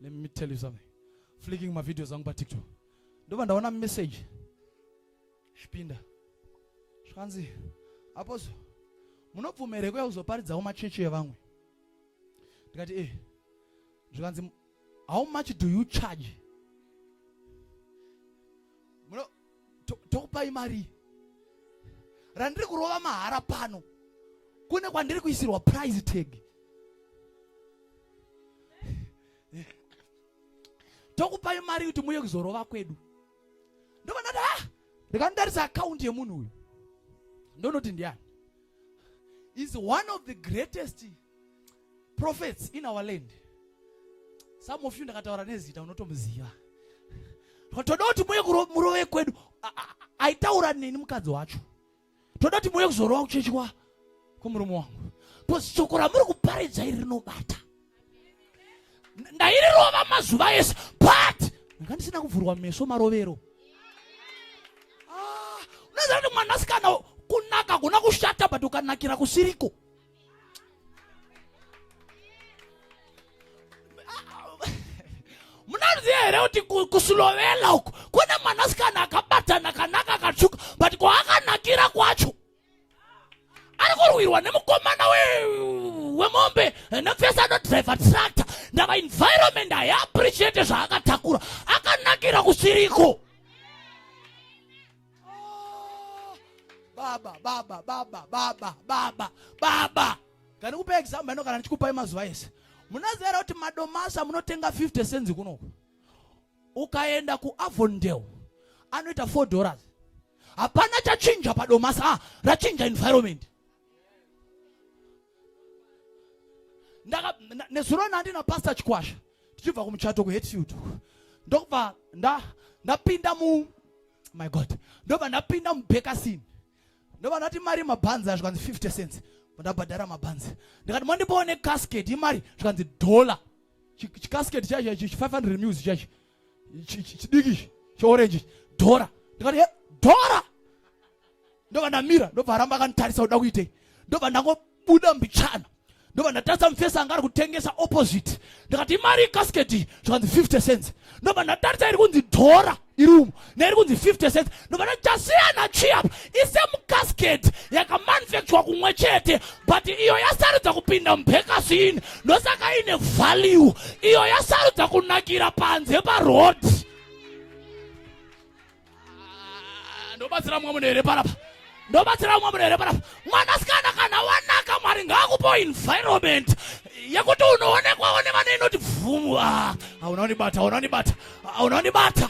let me tell you something flicking mavideos angu patiktok ndobva ndaona message zvipinda zvikanzi aposo munobvumere kuya kuzoparidzawo machechi evamwe ndikati e eh. zvikanzi how much do you charge muno tokupai mari randiri kurova mahara pano kune kwandiri kuisirwa price tag tokupai mari kuti muye kuzorova kwedu ndovanati ha ah, ndikandarisa akaunti yemunhu uyu ndonoti ndiani is one of the greatest prophets in our land some of you ndakataura nezita unotomuziva toda kuti muye murove kwedu aitaura neni mukadzi wacho toda kuti muye kuzorova kuchechwa kumurume wangu bcause shoko ramuri kuparidza iri rinobata ndairirova mazuva ese but ndanga ndisina kuvhurwa meso marovero ah, unoziva kuti mwanasikana kunaka kuna kushata but ukanakira kusiriko munoziva here kuti kusulovela uku kune mwanasikana akabatana akanaka akatsvuka but kwaakanakira kwacho ari kurwirwa nemukomana wemombe nepfesa anodriver tractor ndava environment haiappreciate zvaakatakura akanakira kusiriko baba baba baba baba baba baba kana kupa example ino kana ndichikupai mazuva ese munazivera kuti madomasa munotenga 50 cents kunoku ukaenda kuavondale anoita 4 dollars hapana chachinja padomasa ah, rachinja environment ndaka nezuro nandi napastor chikwasha tichibva kumuchato kuhetfield uko ndokubva ndapinda mu my god ndobva ndapinda mubekasin ndobva ndati mari yemabhanzi a zvikanzi 50 cents ndabhadhara mabhanzi ndikati mandipoone casket imari zvikanzi dollar chicasket chaicho chi 500 mils chaicho chidiki cheorenji dhora ndikati eh, dhora ndobva ndamira ndobva aramba akanditarisa kuda kuitei ndobva ndangobuda mbichana ndobva ndatarisa mufesi anga ari kutengesa opposite ndikati imari ikasiketi zvikanzi 50 cents ndobva ndatarisa iri kunzi dhora iri umu neri kunzi 50 cents ndovana tasiyana chiap isemucasket yakamanufacturwa kumwe chete but iyo yasarudza kupinda mubhekasini ndosaka ine value iyo yasarudza kunakira panze paroad ah, ndobatsira mumwe munhu here parapa ndobatsira mumwe munhu here parapa mwanasikana kana wanaka mwari ngaakupo environment yekuti unoonekwawo nevana inoti bvumu ah, hauna unibata hauna unibata hauna unibata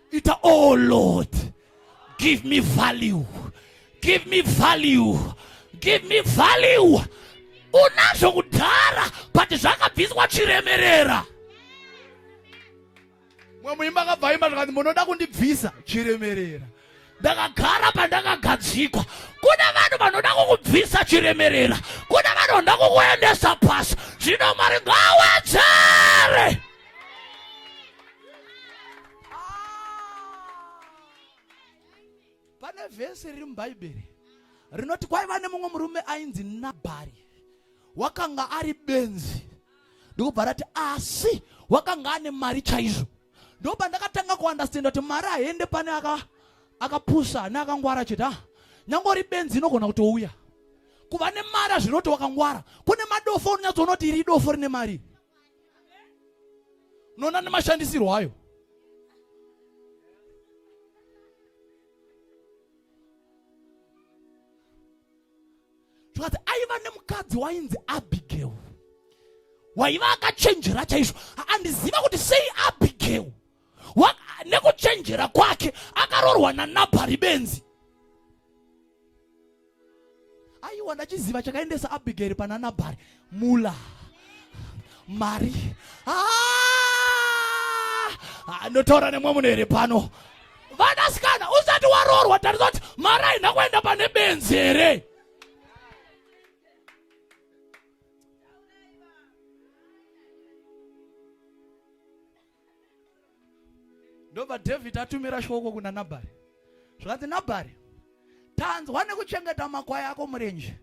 ita oh lord give me value give me value give me value unazvo kudhara but zvakabviswa chiremerera mwe muimba akabvaimba zvakanzi munoda kundibvisa chiremerera ndakagara pandakagadzikwa kune vanhu vanoda kukubvisa chiremerera kune vanhu vanoda kukuendesa pasi zvino mwari ngawedzere ah! pane vhesi riri mubhaibheri rinoti kwaiva nemumwe murume ainzi nabhari wakanga ari benzi ndikubva rati asi wakanga ane mari chaizvo ndoba ndakatanga kuandastenda kuti mari haende pane akapusa aka neakangwara chete ah, nyange uri benzi inogona kutouya kuva nemari azvinoti wakangwara kune madofo unonyatsoona kuti iri idofo rine mari unoona nemashandisirwo ayo zvikati aiva nemukadzi wainzi abigail waiva akachenjera chaizvo andiziva kuti sei abigail nekuchenjera kwake akarorwa nanabhari benzi aiwa ndachiziva chakaendesa abhigeri pana nabhari mula mari ah! ah, ndotaura nemwe munhu here pano vanasikana usati waroorwa tarisa kuti mari haina kuenda pane benzi here ndobva dhavhidhi atumira shoko kuna nabhari zvikanzi nabhari tanzwa nekuchengeta makwai ako murenje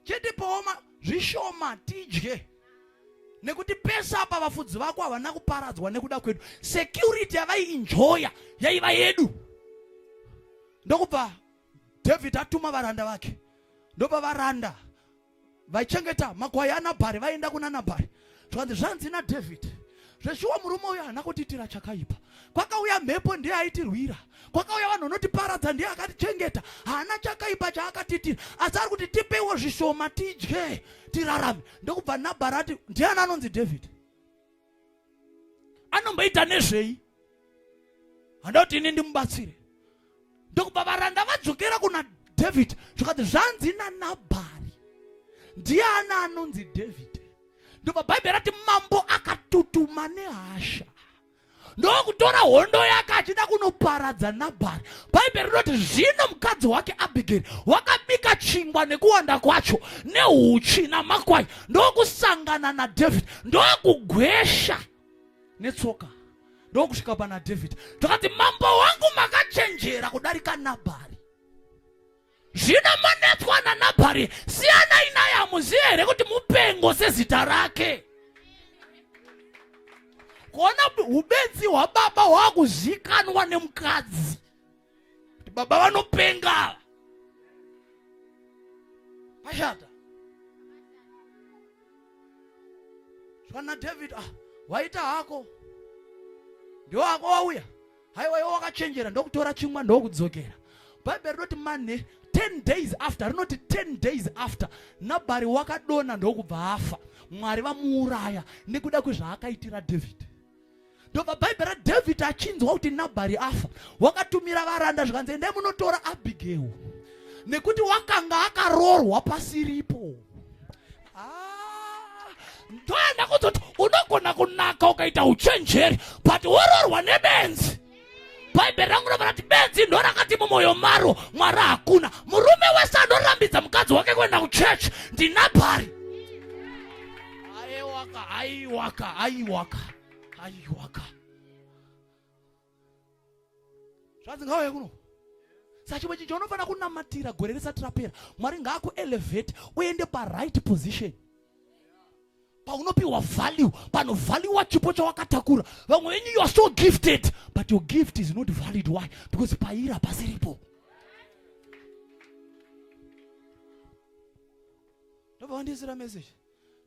chitipowo zvishoma tidye nekuti pese apa vafudzi vako havana kuparadzwa nekuda kwedu security yavaiinjoya yaiva yedu ndokubva dhavhidhi atuma varanda vake ndopa varanda vaichengeta makwai anabhari vaienda kuna nabhari zvikanzi zvanzi nadhavhidhi zveshuwa murume uyo haana kutiitira chakaipa kwakauya mhepo ndiye aitirwira kwakauya vanhu vanotiparadza ndiye akatichengeta haana chakaipa chaakatiitira asi ari kuti tipeiwo zvishoma tidye tirarame ndokubva nabhari ati ndiani anonzi dhavhidhi anomboita nezvei handa kuti ini ndimubatsire ndokubva varanda vadzokera kuna dhavhidhi zvikati zvanzi nanabhari ndiani anonzi dhavhidhi ndobva bhaibheri rati mambo akatutuma nehasha ndokutora hondo yake achida kunoparadza nabhari bhaibheri rinoti zvino mukadzi wake abhigeri wakabika chingwa nekuwanda kwacho neuchi namakwai ndokusangana nadhavhidhi ndokugwesha netsoka ndokusvika pana dhavhidhi ndokati mambo wangu makachenjera kudarika nabhari zvino manetswa nanabhari siyanai naye hamuziye here kuti mupengo sezita rake kuona ubenzi hwababa hwakuzikanwa nemukadzi kuti baba vanopenga pashata zvana david ah waita hako ndiwo hako wauya haiwa iwo wakachenjera ndokutora chingwa ndokudzokera bhaibheri rinoti mane 10 days after rinoti 10 days after nabhari wakadona ndokubva afa mwari vamuuraya nekuda kwezvaakaitira david ndobva bhaibheri radhavhidhi achinzwa kuti nabhari afa wakatumira varanda zvikanzi endai munotora abhigeo nekuti wakanga akaroorwa pasiripo ah, ndoenda kuzoti unogona kunaka ukaita uchenjeri but woroorwa nebenzi bhaibheri rangu rovara kuti benzi ndo rakati mumwoyo maro mwari hakuna murume wese anorambidza mukadzi wake kuenda kuchechi ndinabhari aiwaka aiwaka aiwaka aiwaka zvanzi ngauye kuno sachimwe chinhu chaunofanira kunamatira gore risati rapera mwari ngaakuelevhete uende paright position paunopiwa value panovhaliwa chipo chawakatakura vamwe venyu you are so gifted but your gift is not valid why because pairi hapasiripo ndobva vandiisira message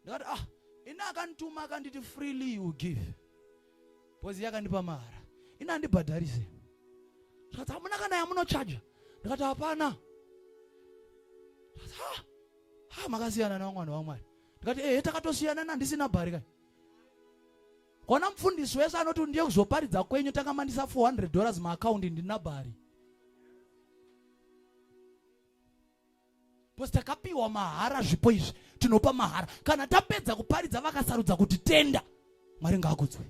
ndakati ah ini akandituma akanditi freely you give because yakandipa mahara ini handibhadharise zvati hamuna kana yamunochaja ndikati hapana ah, ah, makasiyana nevamwana vamwari ndikati ehe takatosiyana nandisina bhari kai kona mufundisi wese anoti ndiye kuzoparidza kwenyu takamandisa 400 dollars maakaundi ndina bhari bcause takapiwa mahara zvipo izvi tinopa mahara kana tapedza kuparidza vakasarudza kuti tenda mwari ngaakudzwe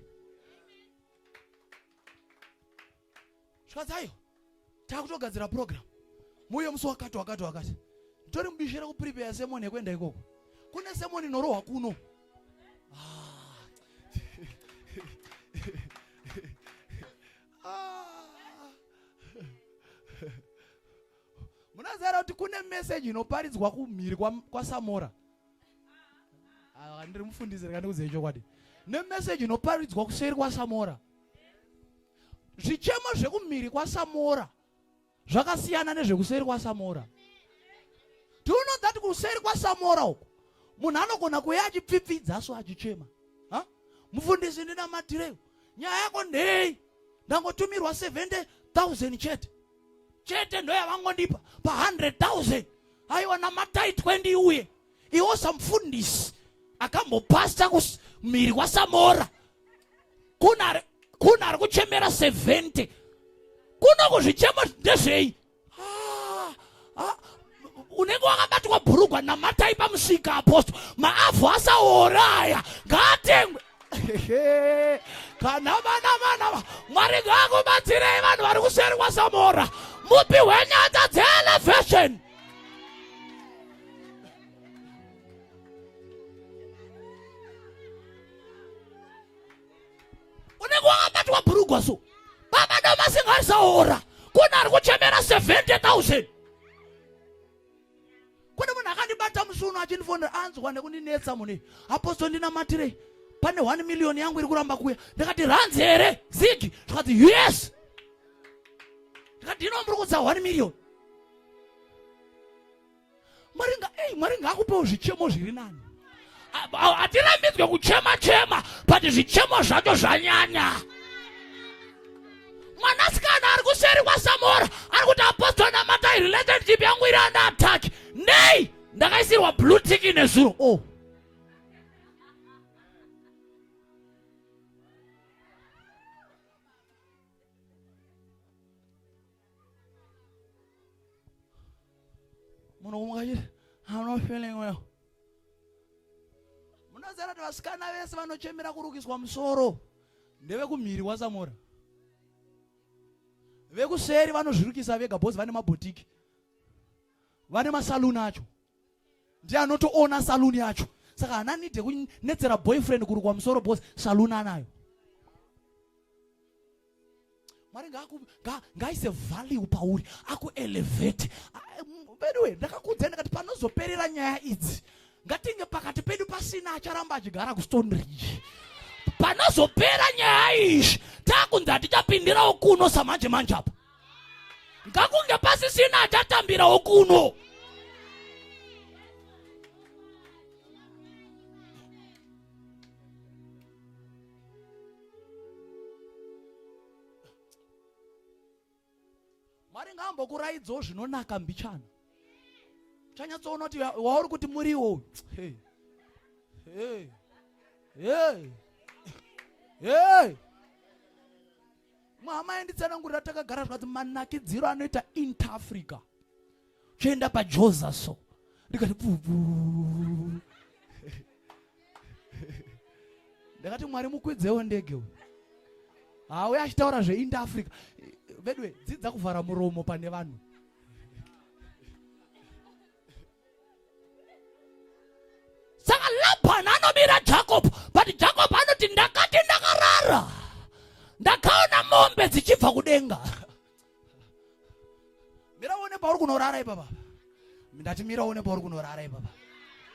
Shwadzayo, takutogadzira program. Muye musi wakati wakati wakati. Nditori mubishi rekuprepare sermon yekuenda ikoko. Kune sermon inorohwa kuno. Ah. ah. Munazara kuti kune message inoparidzwa kumhiri kwa, kwa Samora. Ah, ndiri mufundisi reka ndikudzei chokwadi. Ne message inoparidzwa kuseri kwa Samora. zvichemo zvekumhiri kwasamora zvakasiyana nezvekuseri kwasamora do you know that kuseri kwasamora uku munhu anogona kuuya achipfipfidza so achichema ha mufundisi ndinamatireyo nyaya yako ndei ndangotumirwa 70000 chete chete ndoyavangondipa pa 100000 aiwa namatai 20 uye iwo samufundisi akambopasta kumhiri kwasamora kuna ari kuchemera 70 kuno kuzvichemo ndezvei ah, ah, unenge wakabatwa bhurugwa namatai pamusika aposto maavhu asaoraya ngaatengwe kana vana vana mwari ngaakubatsirei vanhu vari kuseri kwasamora mupi hwenyata dzeelevation unenge wakabatwa bhurugwa so baba domasingazaora kune ari kuchemera 70000 kune munhu akandibata musi uno achindifonera anzwa nekundinetsa mune aposto ndinamatirei pane 1 million yangu iri kuramba kuya ndikati ranzi here zigi zvikati yes ndikati ino muri kudza 1 million mwari nga ei mwari ngaakupewo zvichemo zviri nani hatirambidzwe kuchema chema but zvichemo zvacho zvanyanya mwanasikana ari kuseri kwasamora ari kuti apostol namatai relationship yangu iri anda attack nei ndakaisirwa blue tick nezuro o oh. munhu kumukati i'm not feeling well munoziva kuti vasikana vese vanochemera kurukiswa musoro ndevekumhiri wasamora vekuseri vanozvirukisa vega bhozi vane mabhotiki vane masaluni acho ndiye anotoona saloon yacho saka hana nide kunetsera boyfriend kurukwa musoro bos saloon anayo mwari ngaise value pauri akuelevate veduwe ndakakudzai ndakati panozoperera nyaya idzi ngatinge pakati pedu pasina acharamba achigara kustone ridge panozopera nyaya izvi takunzi hatichapindirawo kuno samanje manje apa ngakunge pasisina achatambirawo kuno mwari ngaambokuraidzawo zvinonaka mbichana uchanyatsoona kuti wauri kuti muriwo uyu hey. hey. hey. hey. Mama yanditsanangurira takagara zvadzo manakidziro anoita inter Africa. Choenda pa Joza so. Ndikati pupu. Ndakati Mwari mukwidzewo ndege uyu. Hauya achitaura zve inter Africa. Vedwe dzidza kuvhara muromo pane vanhu. saka labhan anobira jacob but jacob anoti ndakati ndakarara ndakaona mombe dzichibva kudenga mira uone pauri kunorara ipapa ndati mira uone pauri kunorara ipapa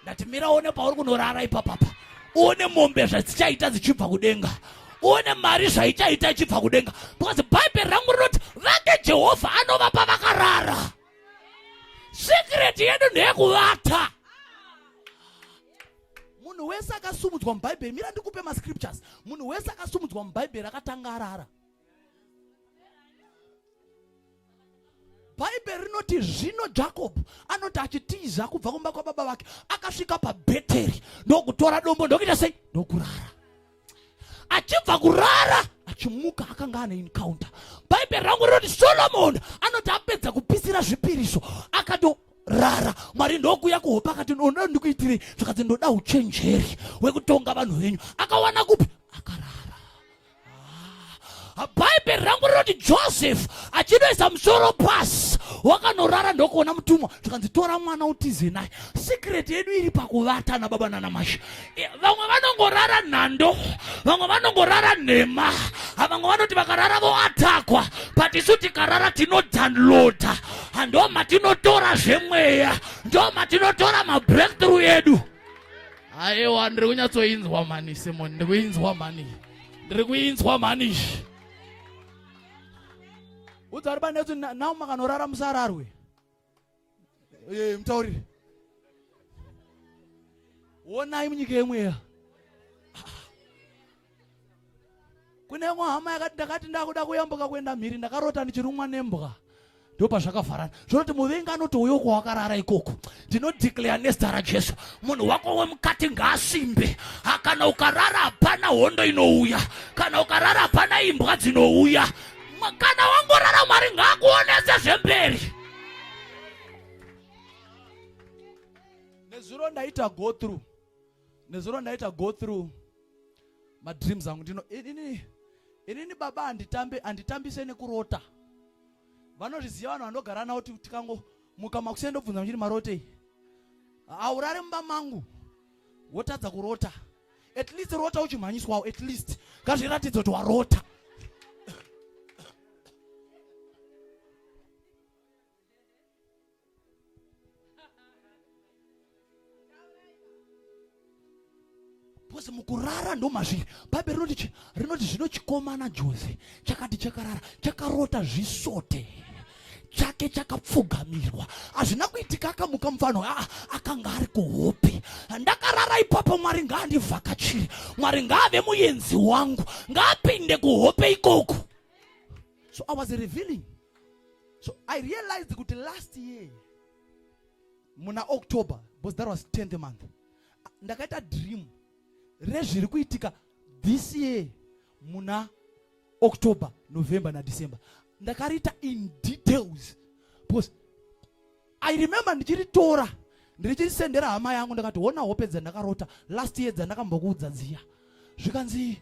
ndati mira uone pauri kunorara ipapapa uone mombe zvadzichaita dzichibva kudenga uone mari zvaichaita ichibva kudenga because bhaibheri rangu rinoti vake jehovha anovapa vakarara secret yedu ndeyekuvata munhu wese akasumudzwa mubhaibheri mira ndikupe mascriptures munhu wese akasumudzwa mubhaibheri akatanga arara bhaibheri rinoti zvino jakobho anoti achitiza kubva kumba kwababa vake akasvika pabheteri ndokutora dombo ndokuita sei ndokurara achibva kurara achimuka akanga ane encounter bhaibheri rangu rinoti solomoni anoti apedza kupisira zvipiriso akatorara mwari ndokuya kuhope akati ndoda ndikuitirei zvakanzi ndoda uchenjeri wekutonga vanhu venyu akawana kupi akarara bhaibheri rangu rinoti joseph achinoisa musoro pasi wakanorara ndokuona mutumwa zvikanzi tora mwana utize naye secret yedu iri pakuvata na baba nana masha eh, vamwe vanongorara nhando vamwe vanongorara nhema vamwe vanoti vakarara voatakwa but isu tikarara tinodownloada ndo matinotora zvemweya ndo matinotora mabreakthrough edu aiwa ndiri kunyatsoinzwa mani simon ndiri kuinzwa mani ndiri kuinzwa mhani udza vari panetsu nao makanorara musararwe ee mutauriri wonai munyika yemweya kune imwe hama yakati ndakati ndakuda kuyambuka kuenda mhiri ndakarota ndichirumwa nembwa ndopazvakavharana zvinoti muvengi anotouya uko wakarara ikoko ndinodeclare nezita rajesu munhu wako wemukati ngaasimbe ah, kana ukarara hapana hondo inouya kana ukarara hapana imbwa dzinouya kana wangorara mwari ngaakuonese zvemberi nezuro ndaita go through nezuro ndaita go through madreams angu ndino inini inini baba anditambe anditambise nekurota vanozviziva vanhu vandogara navo kuti tikango muka makusiyana ndobvunza muchiri marotei aurare mumba mangu wotadza kurota at least rota uchimhanyiswawo at least ngazviratidza kuti warota because mukurara ndomazviri bhaibheri rinoti chi rinoti zvino chikomana jose chakati chakarara chakarota zvisote chake chakapfugamirwa hazvina kuitika akamuka mufano aa akanga ari kuhope ndakarara ipapo mwari ngaandivhakachire mwari ngaave muyenzi wangu ngaapinde kuhope ikoko so i was revealing so i realized kuti last year muna october because that was 10th month ndakaita dream rezviri kuitika this year muna october november nadecember ndakariita in details because i remember ndichiritora ndirichirisendera hama yangu ndakati hona hope dzandakarota last year dzandakambokuudza dziya zvikanzi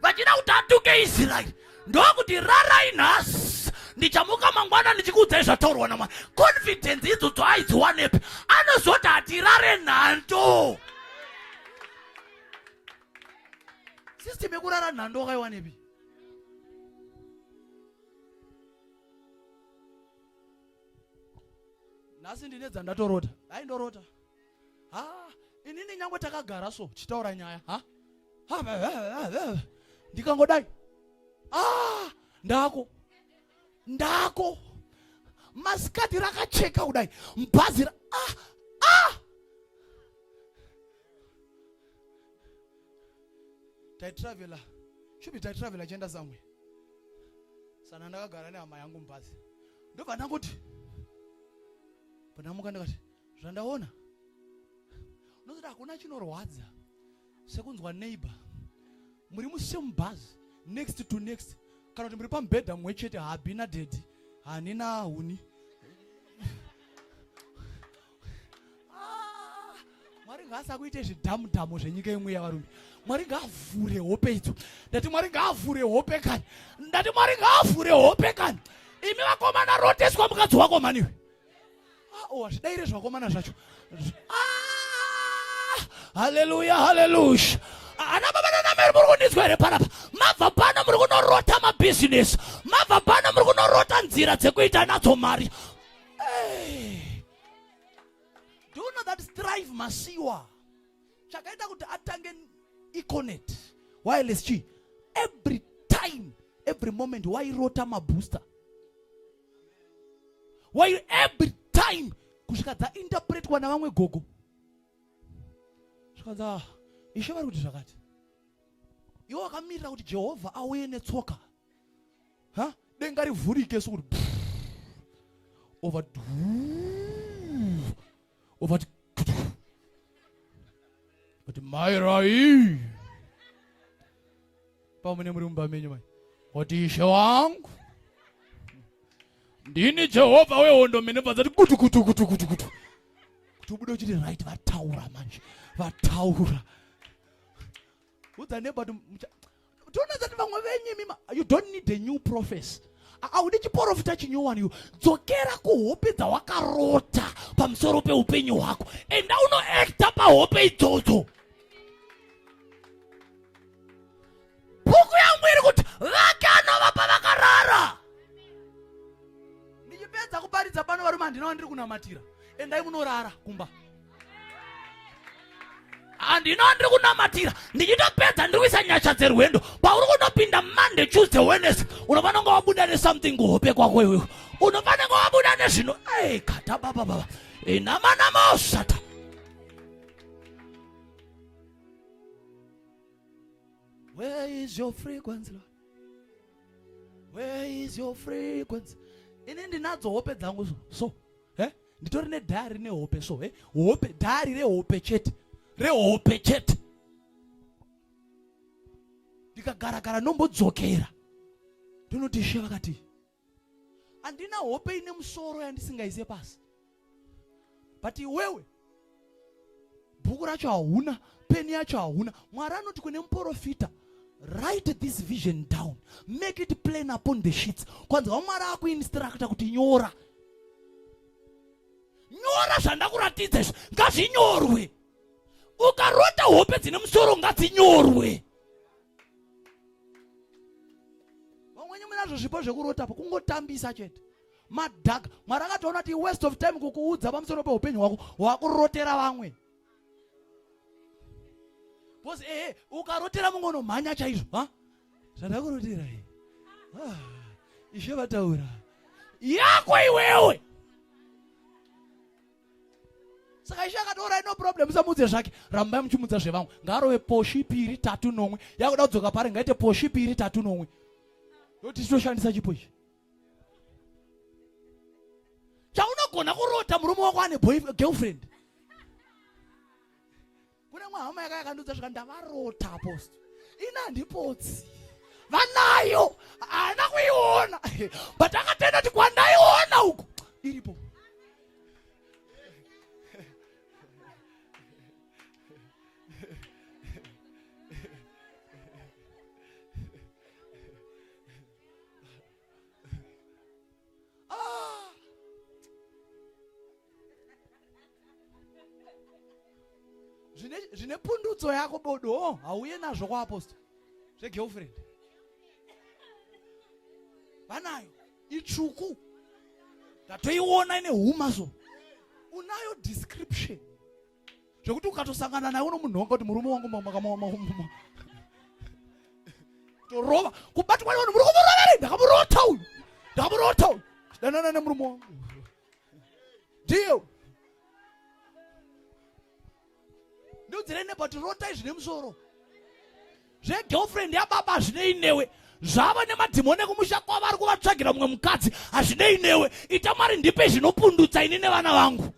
vachida kuti atuke israeri ndokuti rarai nhasi ndichamuka mangwana ndichikuudzai zvataurwa namwari confidence idzodzo aidziwanepi anozoti hatirare nhando system yekurara nhando wakaiwanepi nhasi ndine dzandatorota dai ndorota ha inini nyangwe takagara so tichitaura nyaya ha ndikangodai ah ndako ndako masikati rakacheka kudai mbhazi ah ah taitravela shubi taitravela chienda zamwe sana ndakagara nehama yangu mbhazi ndobva ndangoti panamuka ndikati zvandaona unozoti hakuna chinorwadza sekunzwa neighbor muri musame bhazi next to next kana kuti muri pamubhedha mumwe chete habina dedi hanina huni ah, mwari ngaasakuite zvidhamu dhamu zvenyika imwe yavarume mwari ngaavhure hope idzo ndati mwari ngaavhure hope kani ndati mwari ngaavhure hope kani imi vakomana roteswa mukadzi wako maniwe aowa zvidaire zvakomana zvacho ah! haleluya haleluya ana baba nanameri muri kundinzwa here panapa mabva pano muri kunorota mabhizinesi mabva pano muri kunorota nzira dzekuita nadzo mari do you know that strive masiwa chakaita kuti atange econet wireless chi every time every moment wairota mabooster while every time kusvika dzainterpretwa navamwe gogo zvikanzi ah, ishe vari kuti zvakati iwe wakamirira kuti jehovha auye netsoka ha denga rivhurike sokuti over ovati kuti mairai pamune muri mumba menyu mai kuti ishe wangu ndini jehovha wehondo mene vadzati kutu kutu kutu kutu kutu kuti ubude uchiti right vataura manje vataura udza nebati toona zati vamwe venyu imima you don't need a new prophecy haudi chiporofita chinyowani iwe dzokera kuhope dzawakarota pamusoro peupenyu hwako enda unoekta pahope idzodzo bhuku yangu iri kuti vake anova pavakarara ndichipedza kuparidza pano varume handinawa ndiri kunamatira endai munorara kumba handino ndiri kunamatira ndichitopedza ndiri kuisa nyasha dzerwendo pauri kunopinda monday tuesday wednesday unofanonga wabuda nesomething kuhope kwako iwewe unofanonga wabuda nezvino ei kata baba baba inamanama osata Where is your frequency, Lord? Where is your frequency? Ini ndinadzo hope dzangu so. Eh? nditori nedhari nehope so eh? hope dhari rehope chete rehope chete ndikagaragara nombodzokera ndinoti she vakati handina hope ine musoro yandisingaize pasi but iwewe bhuku racho hauna peni yacho hauna mwari anoti kune muporofita write this vision down make it plain upon the sheets kwanza wamwari akuinstructa kuti nyora nyora zvandakuratidza izvi ngazvinyorwe ukarota hope dzine musoro ngadzinyorwe vamwenye munazvo zvipo zvekurotapo kungotambisa chete madhaka mwari akatoona kuti waste of time kukuudza pamusoro peupenyu hwako wakurotera vamwe bcause ehe eh, ukarotera mumwe unomhanya chaizvo ha zvandakurotera e ah, ishe vataura yako iwewe saka ishe akatoora ino problem usamuudze zvake rambai muchimudza zvevamwe ngaarove poshi piri tatu nomwe yakuda kudzoka pari ngaite poshi piri tatu nomwe yoti titoshandisa chipo ichi chaunogona kurota murume wako ane girlfriend kune mwe hama yaka yakandiudza zvika ndavarota aposto ini handipotsi vanayo haana kuiona but akatenda kuti kwandaiona uku iripo ah! zvine pundutso yako bodo oh, hauye nazvo kwaapostora zvegirlfriend vanayo itsvuku ndatoiona ine huma so unayo description zvekuti ukatosangana naye unomunhonga kuti murume wangu makamamamama torova kubatwa nevanhu muri kumurova ri ndakamurota uyu ndakamurota uyu danana nemurume wangu ndiyo ndoudzirei nebati rotai zvine musoro zvegirlfriend yababa hazvinei newe zvava nemadhimoni ekumusha kwavo ari kuvatsvagira mumwe mukadzi hazvinei newe ita mwari ndipe zvinopundutsa ini nevana vangu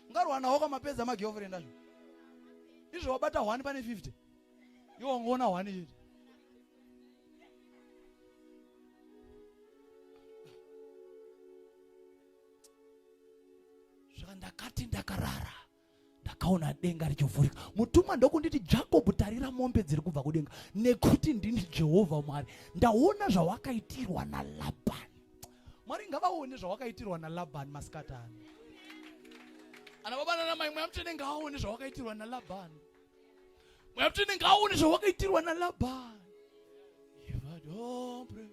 ungarwanawo kwamapedza magirlfriend azvo izvo wabata one pane 50 iwo ungoona one chete zvaka ndakati ndakarara ndakaona denga richivhurika mutumwa ndokunditi jacob tarira mombe dziri kubva kudenga nekuti ndini jehovha mwari ndaona zvawakaitirwa nalabani mwari ngavaone zvawakaitirwa nalabani masikati ano ana baba nana mai mweya mutsvene ngaaone zvawakaitirwa nalabani mweya mutsvene ngaaone zvawakaitirwa nalabani ivadombre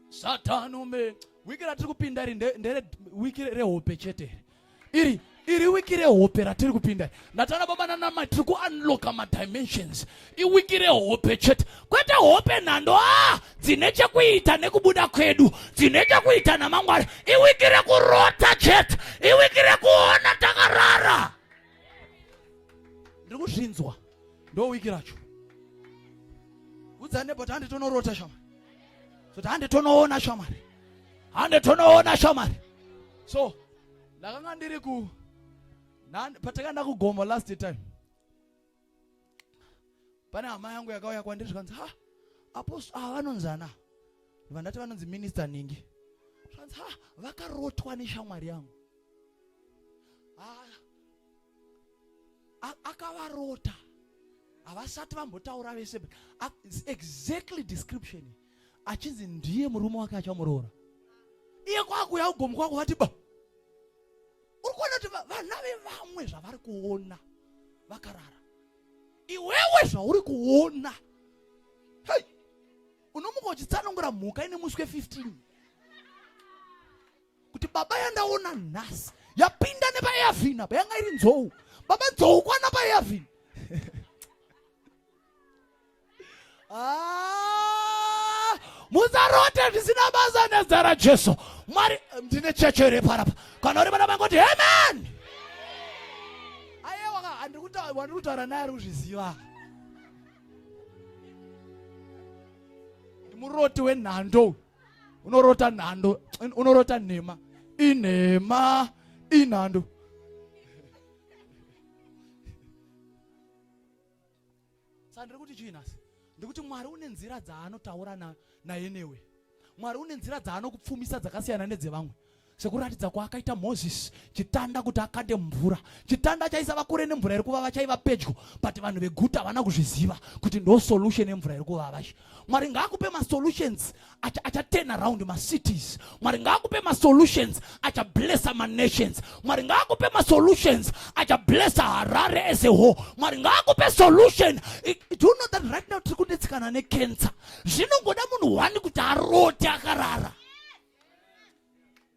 satani ume wiki ratiri kupinda iri ndere wiki rehope chete iri iri wiki rehope ratiri kupinda ndatana baba nanamai tiri kuunlocka madimensions iwiki rehope chete kwete hope nhando a dzine chekuita nekubuda kwedu dzine chekuita namangwari iwiki rekurota chete iwiki rekuona takarara ndiri kuzvinzwa ndo wiki racho udzane but handitonorota shamari so handitonoona shamari hande tonoona shamari so ndakanga ndiri ku patakaenda kugomo last time pane hama yangu yakauya kwandiri zvikanzi ha aposto ava ah, vanonzi ana vandati vanonzi minista ningi zvikanzi ha vakarotwa neshamwari yangu akavarota havasati vambotaura vese exactly description achinzi ndiye murume wake achamuroora iye kwakuya ugomu kwako vati ba uri kuona kuti vana vevamwe zvavari kuona vakarara iwewe zvauri kuona hei unomuka uchitsanangura mhuka ine muswe 15 kuti baba yandaona nhasi yapinda nepaeavhin apa yanga iri nzou baba nzou kwana paeavhin Ah, musarote ndisina basa nezita rajesu mwari ndine checho here parapa kana uri vana vangoti amen ayewa handiri kutaura naye ari kuzviziva muroti wenhando unorota nhando unorota nhema inhema inhando Saka ndiri kuti chii nhasi? Ndikuti Mwari une nzira dzaanotaura na, naye newe. Mwari une nzira dzaanokupfumisa dzakasiyana nedzevamwe sekuratidza kwaakaita moses chitanda kuti akande mvura chitanda chaisava kure nemvura iri kuvava chaiva pedyo but vanhu veguta havana kuzviziva kuti ndo solution yemvura iri kuvava mwari ngaakupe masolutions achaturn acha around macities mwari ngaakupe masolutions achablessa manations mwari ngaakupe masolutions achablessa harare as a whole mwari ngaakupe solution do you know that right now tiri kunetsikana necancer zvinongoda munhu one kuti arote akarara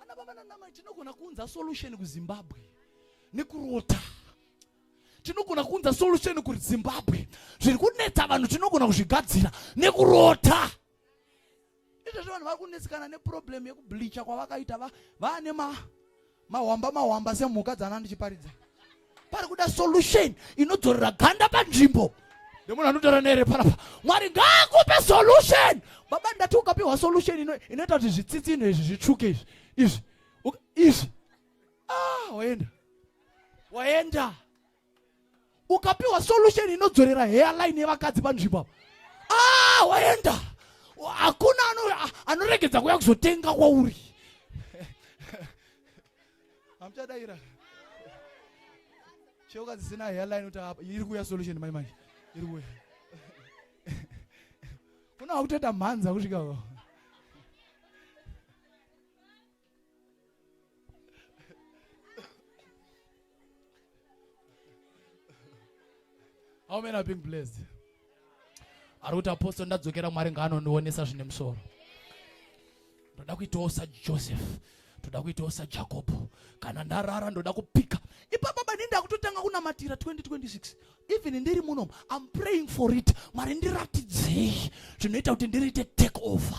Ana baba nanamai tinogona kuunza solution kuZimbabwe nekurota tinogona kuunza solution kuri zimbabwe zviri kunetsa vanhu tinogona kuzvigadzira nekurota izvezvi vanhu vari kunetsekana neproblem yekubleacha kwavakaita vaane mahwamba mahwamba semhuka dzana ndichiparidza pari kuda solution inodzorera ganda panzvimbo nemunhu anotaura nere panapa mwari ngaakupe solution baba ndati ukapiwa solution inoita kuti zvitsitsino izvi zvitsvuke izvi izvi izvi ah, waenda waenda ukapiwa solution inodzorera hairline yevakadzi panzvimbo ah, waenda hakuna anoregedza kuya kuzotenga kwauri hamuchadaira cheuka dzisina hairline kuti apa iri kuuya solution mai manje iri kuuya kuna wakutoita mhanza kusvika How many are being blessed? ari kuti apostle ndadzokera mwari ngaanondionesa zvine musoro ndoda kuitawo sajoseph ndoda kuitawo sajakobho kana ndarara ndoda kupika ipapa bani ndakutotanga kunamatira 2026 even ndiri muno im praying for it mwari ndiratidzei zvinoita kuti ndiriite take over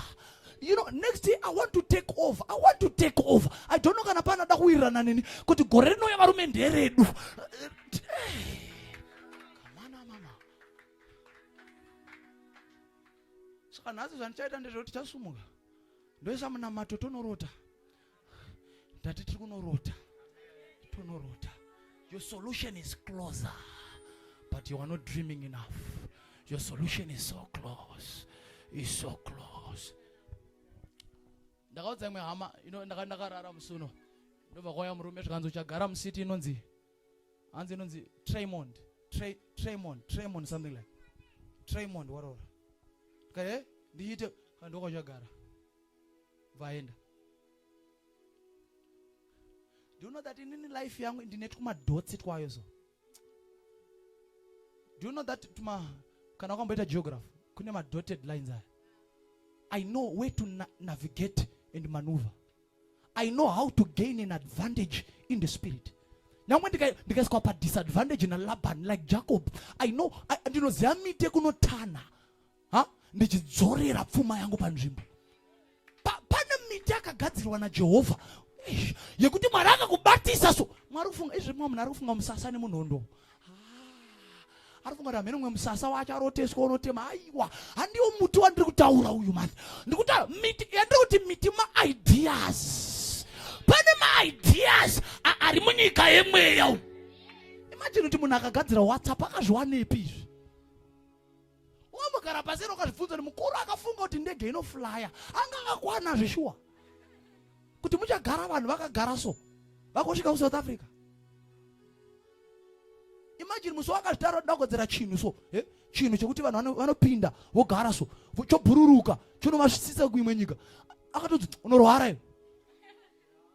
you know next year i want to take over i want to take over i don't know kana panoda kuwirirana neni kuti gore rinouya varume nderedu saka nhasi zvandichaita ndezvekuti tichasumuka ndoisa munamato tonorota ndati tiri kunorota tonorota your solution is closer but you are not dreaming enough your solution is so close is so close ndakaudza imwe hama ndakarara musuno ndobva kwaya murume zvikanzi uchagara musiti inonzi hanzi inonzi tremond Tre, tremond tremond something like tremond waroora kae eh, ndiite kandokwachagara vaenda do you know that inini life yangu ndine twumadhotsi twayo so do you know that tuma kana wakamboita geography kune madotted lines aya i know where to na navigate and maneuver I know how to gain an advantage in the spirit. nyangwe ndikaiswa padisadvantage nalaban like jacob i know ndinoziva mite kunotana ha ndichidzorera pfuma yangu panzvimbo pane miti akagadzirwa najehovha yekuti mwari akakubatisa so mwari kufunga izvi mwa munhu ari kufunga musasa nemunhondo Arifunga kuti hameno mwe musasa wacho aroteswa unotema haiwa handiwo muti wandiri kutaura uyu mani ndikutaura miti yandiri kuti miti maideas pane maideas ari munyika yemweya umu imajini kuti munhu akagadzira whatsapp akazviwanepi izvi wambogara paseri ukazvibvunza kuti mukuru akafunga kuti ndege inoflaya anga akwana zveshuwa kuti muchagara vanhu vakagara so vakosvika kusouth africa imajini musi wakazvitara dagodzera chinhu so eh? chinhu chekuti vanhu vanopinda vogara so chobhururuka chonovasvitsisa kuimwe nyika akatoti unorwara iwe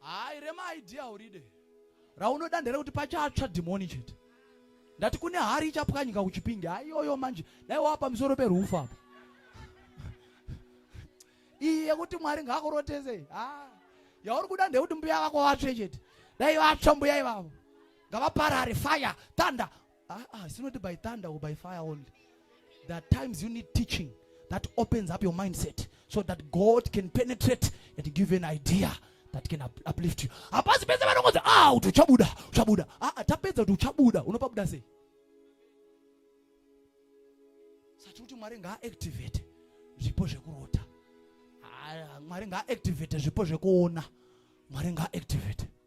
Hayi rema idea uride. Raunoda nderekuti pachatsva dhimoni chete. Ndati kune hari ichapwanyika kuchipinge. Hayi yoyo manje. Dai wava pamusoro perufu apa. Iyi yekuti Mwari ngakurotese. Ah. Yauri kuda ndekuti mbuya vako vatsve chete. Dai vatsva mbuya ivavo. Ngavaparare fire, thunder, Ah, ah, it's not by thunder or by fire only. There are times you need teaching that opens up your mindset so that God can penetrate and give you an idea that can up, uplift you. Hapasi pese vanongozi ah uti uchabuda, uchabuda. Ah, ah tapedza kuti uchabuda, unopabuda sei? Sati kuti Mwari ngaaactivate zvipo zvekurota. Ah, Mwari ngaaactivate zvipo zvekuona. Mwari ngaaactivate.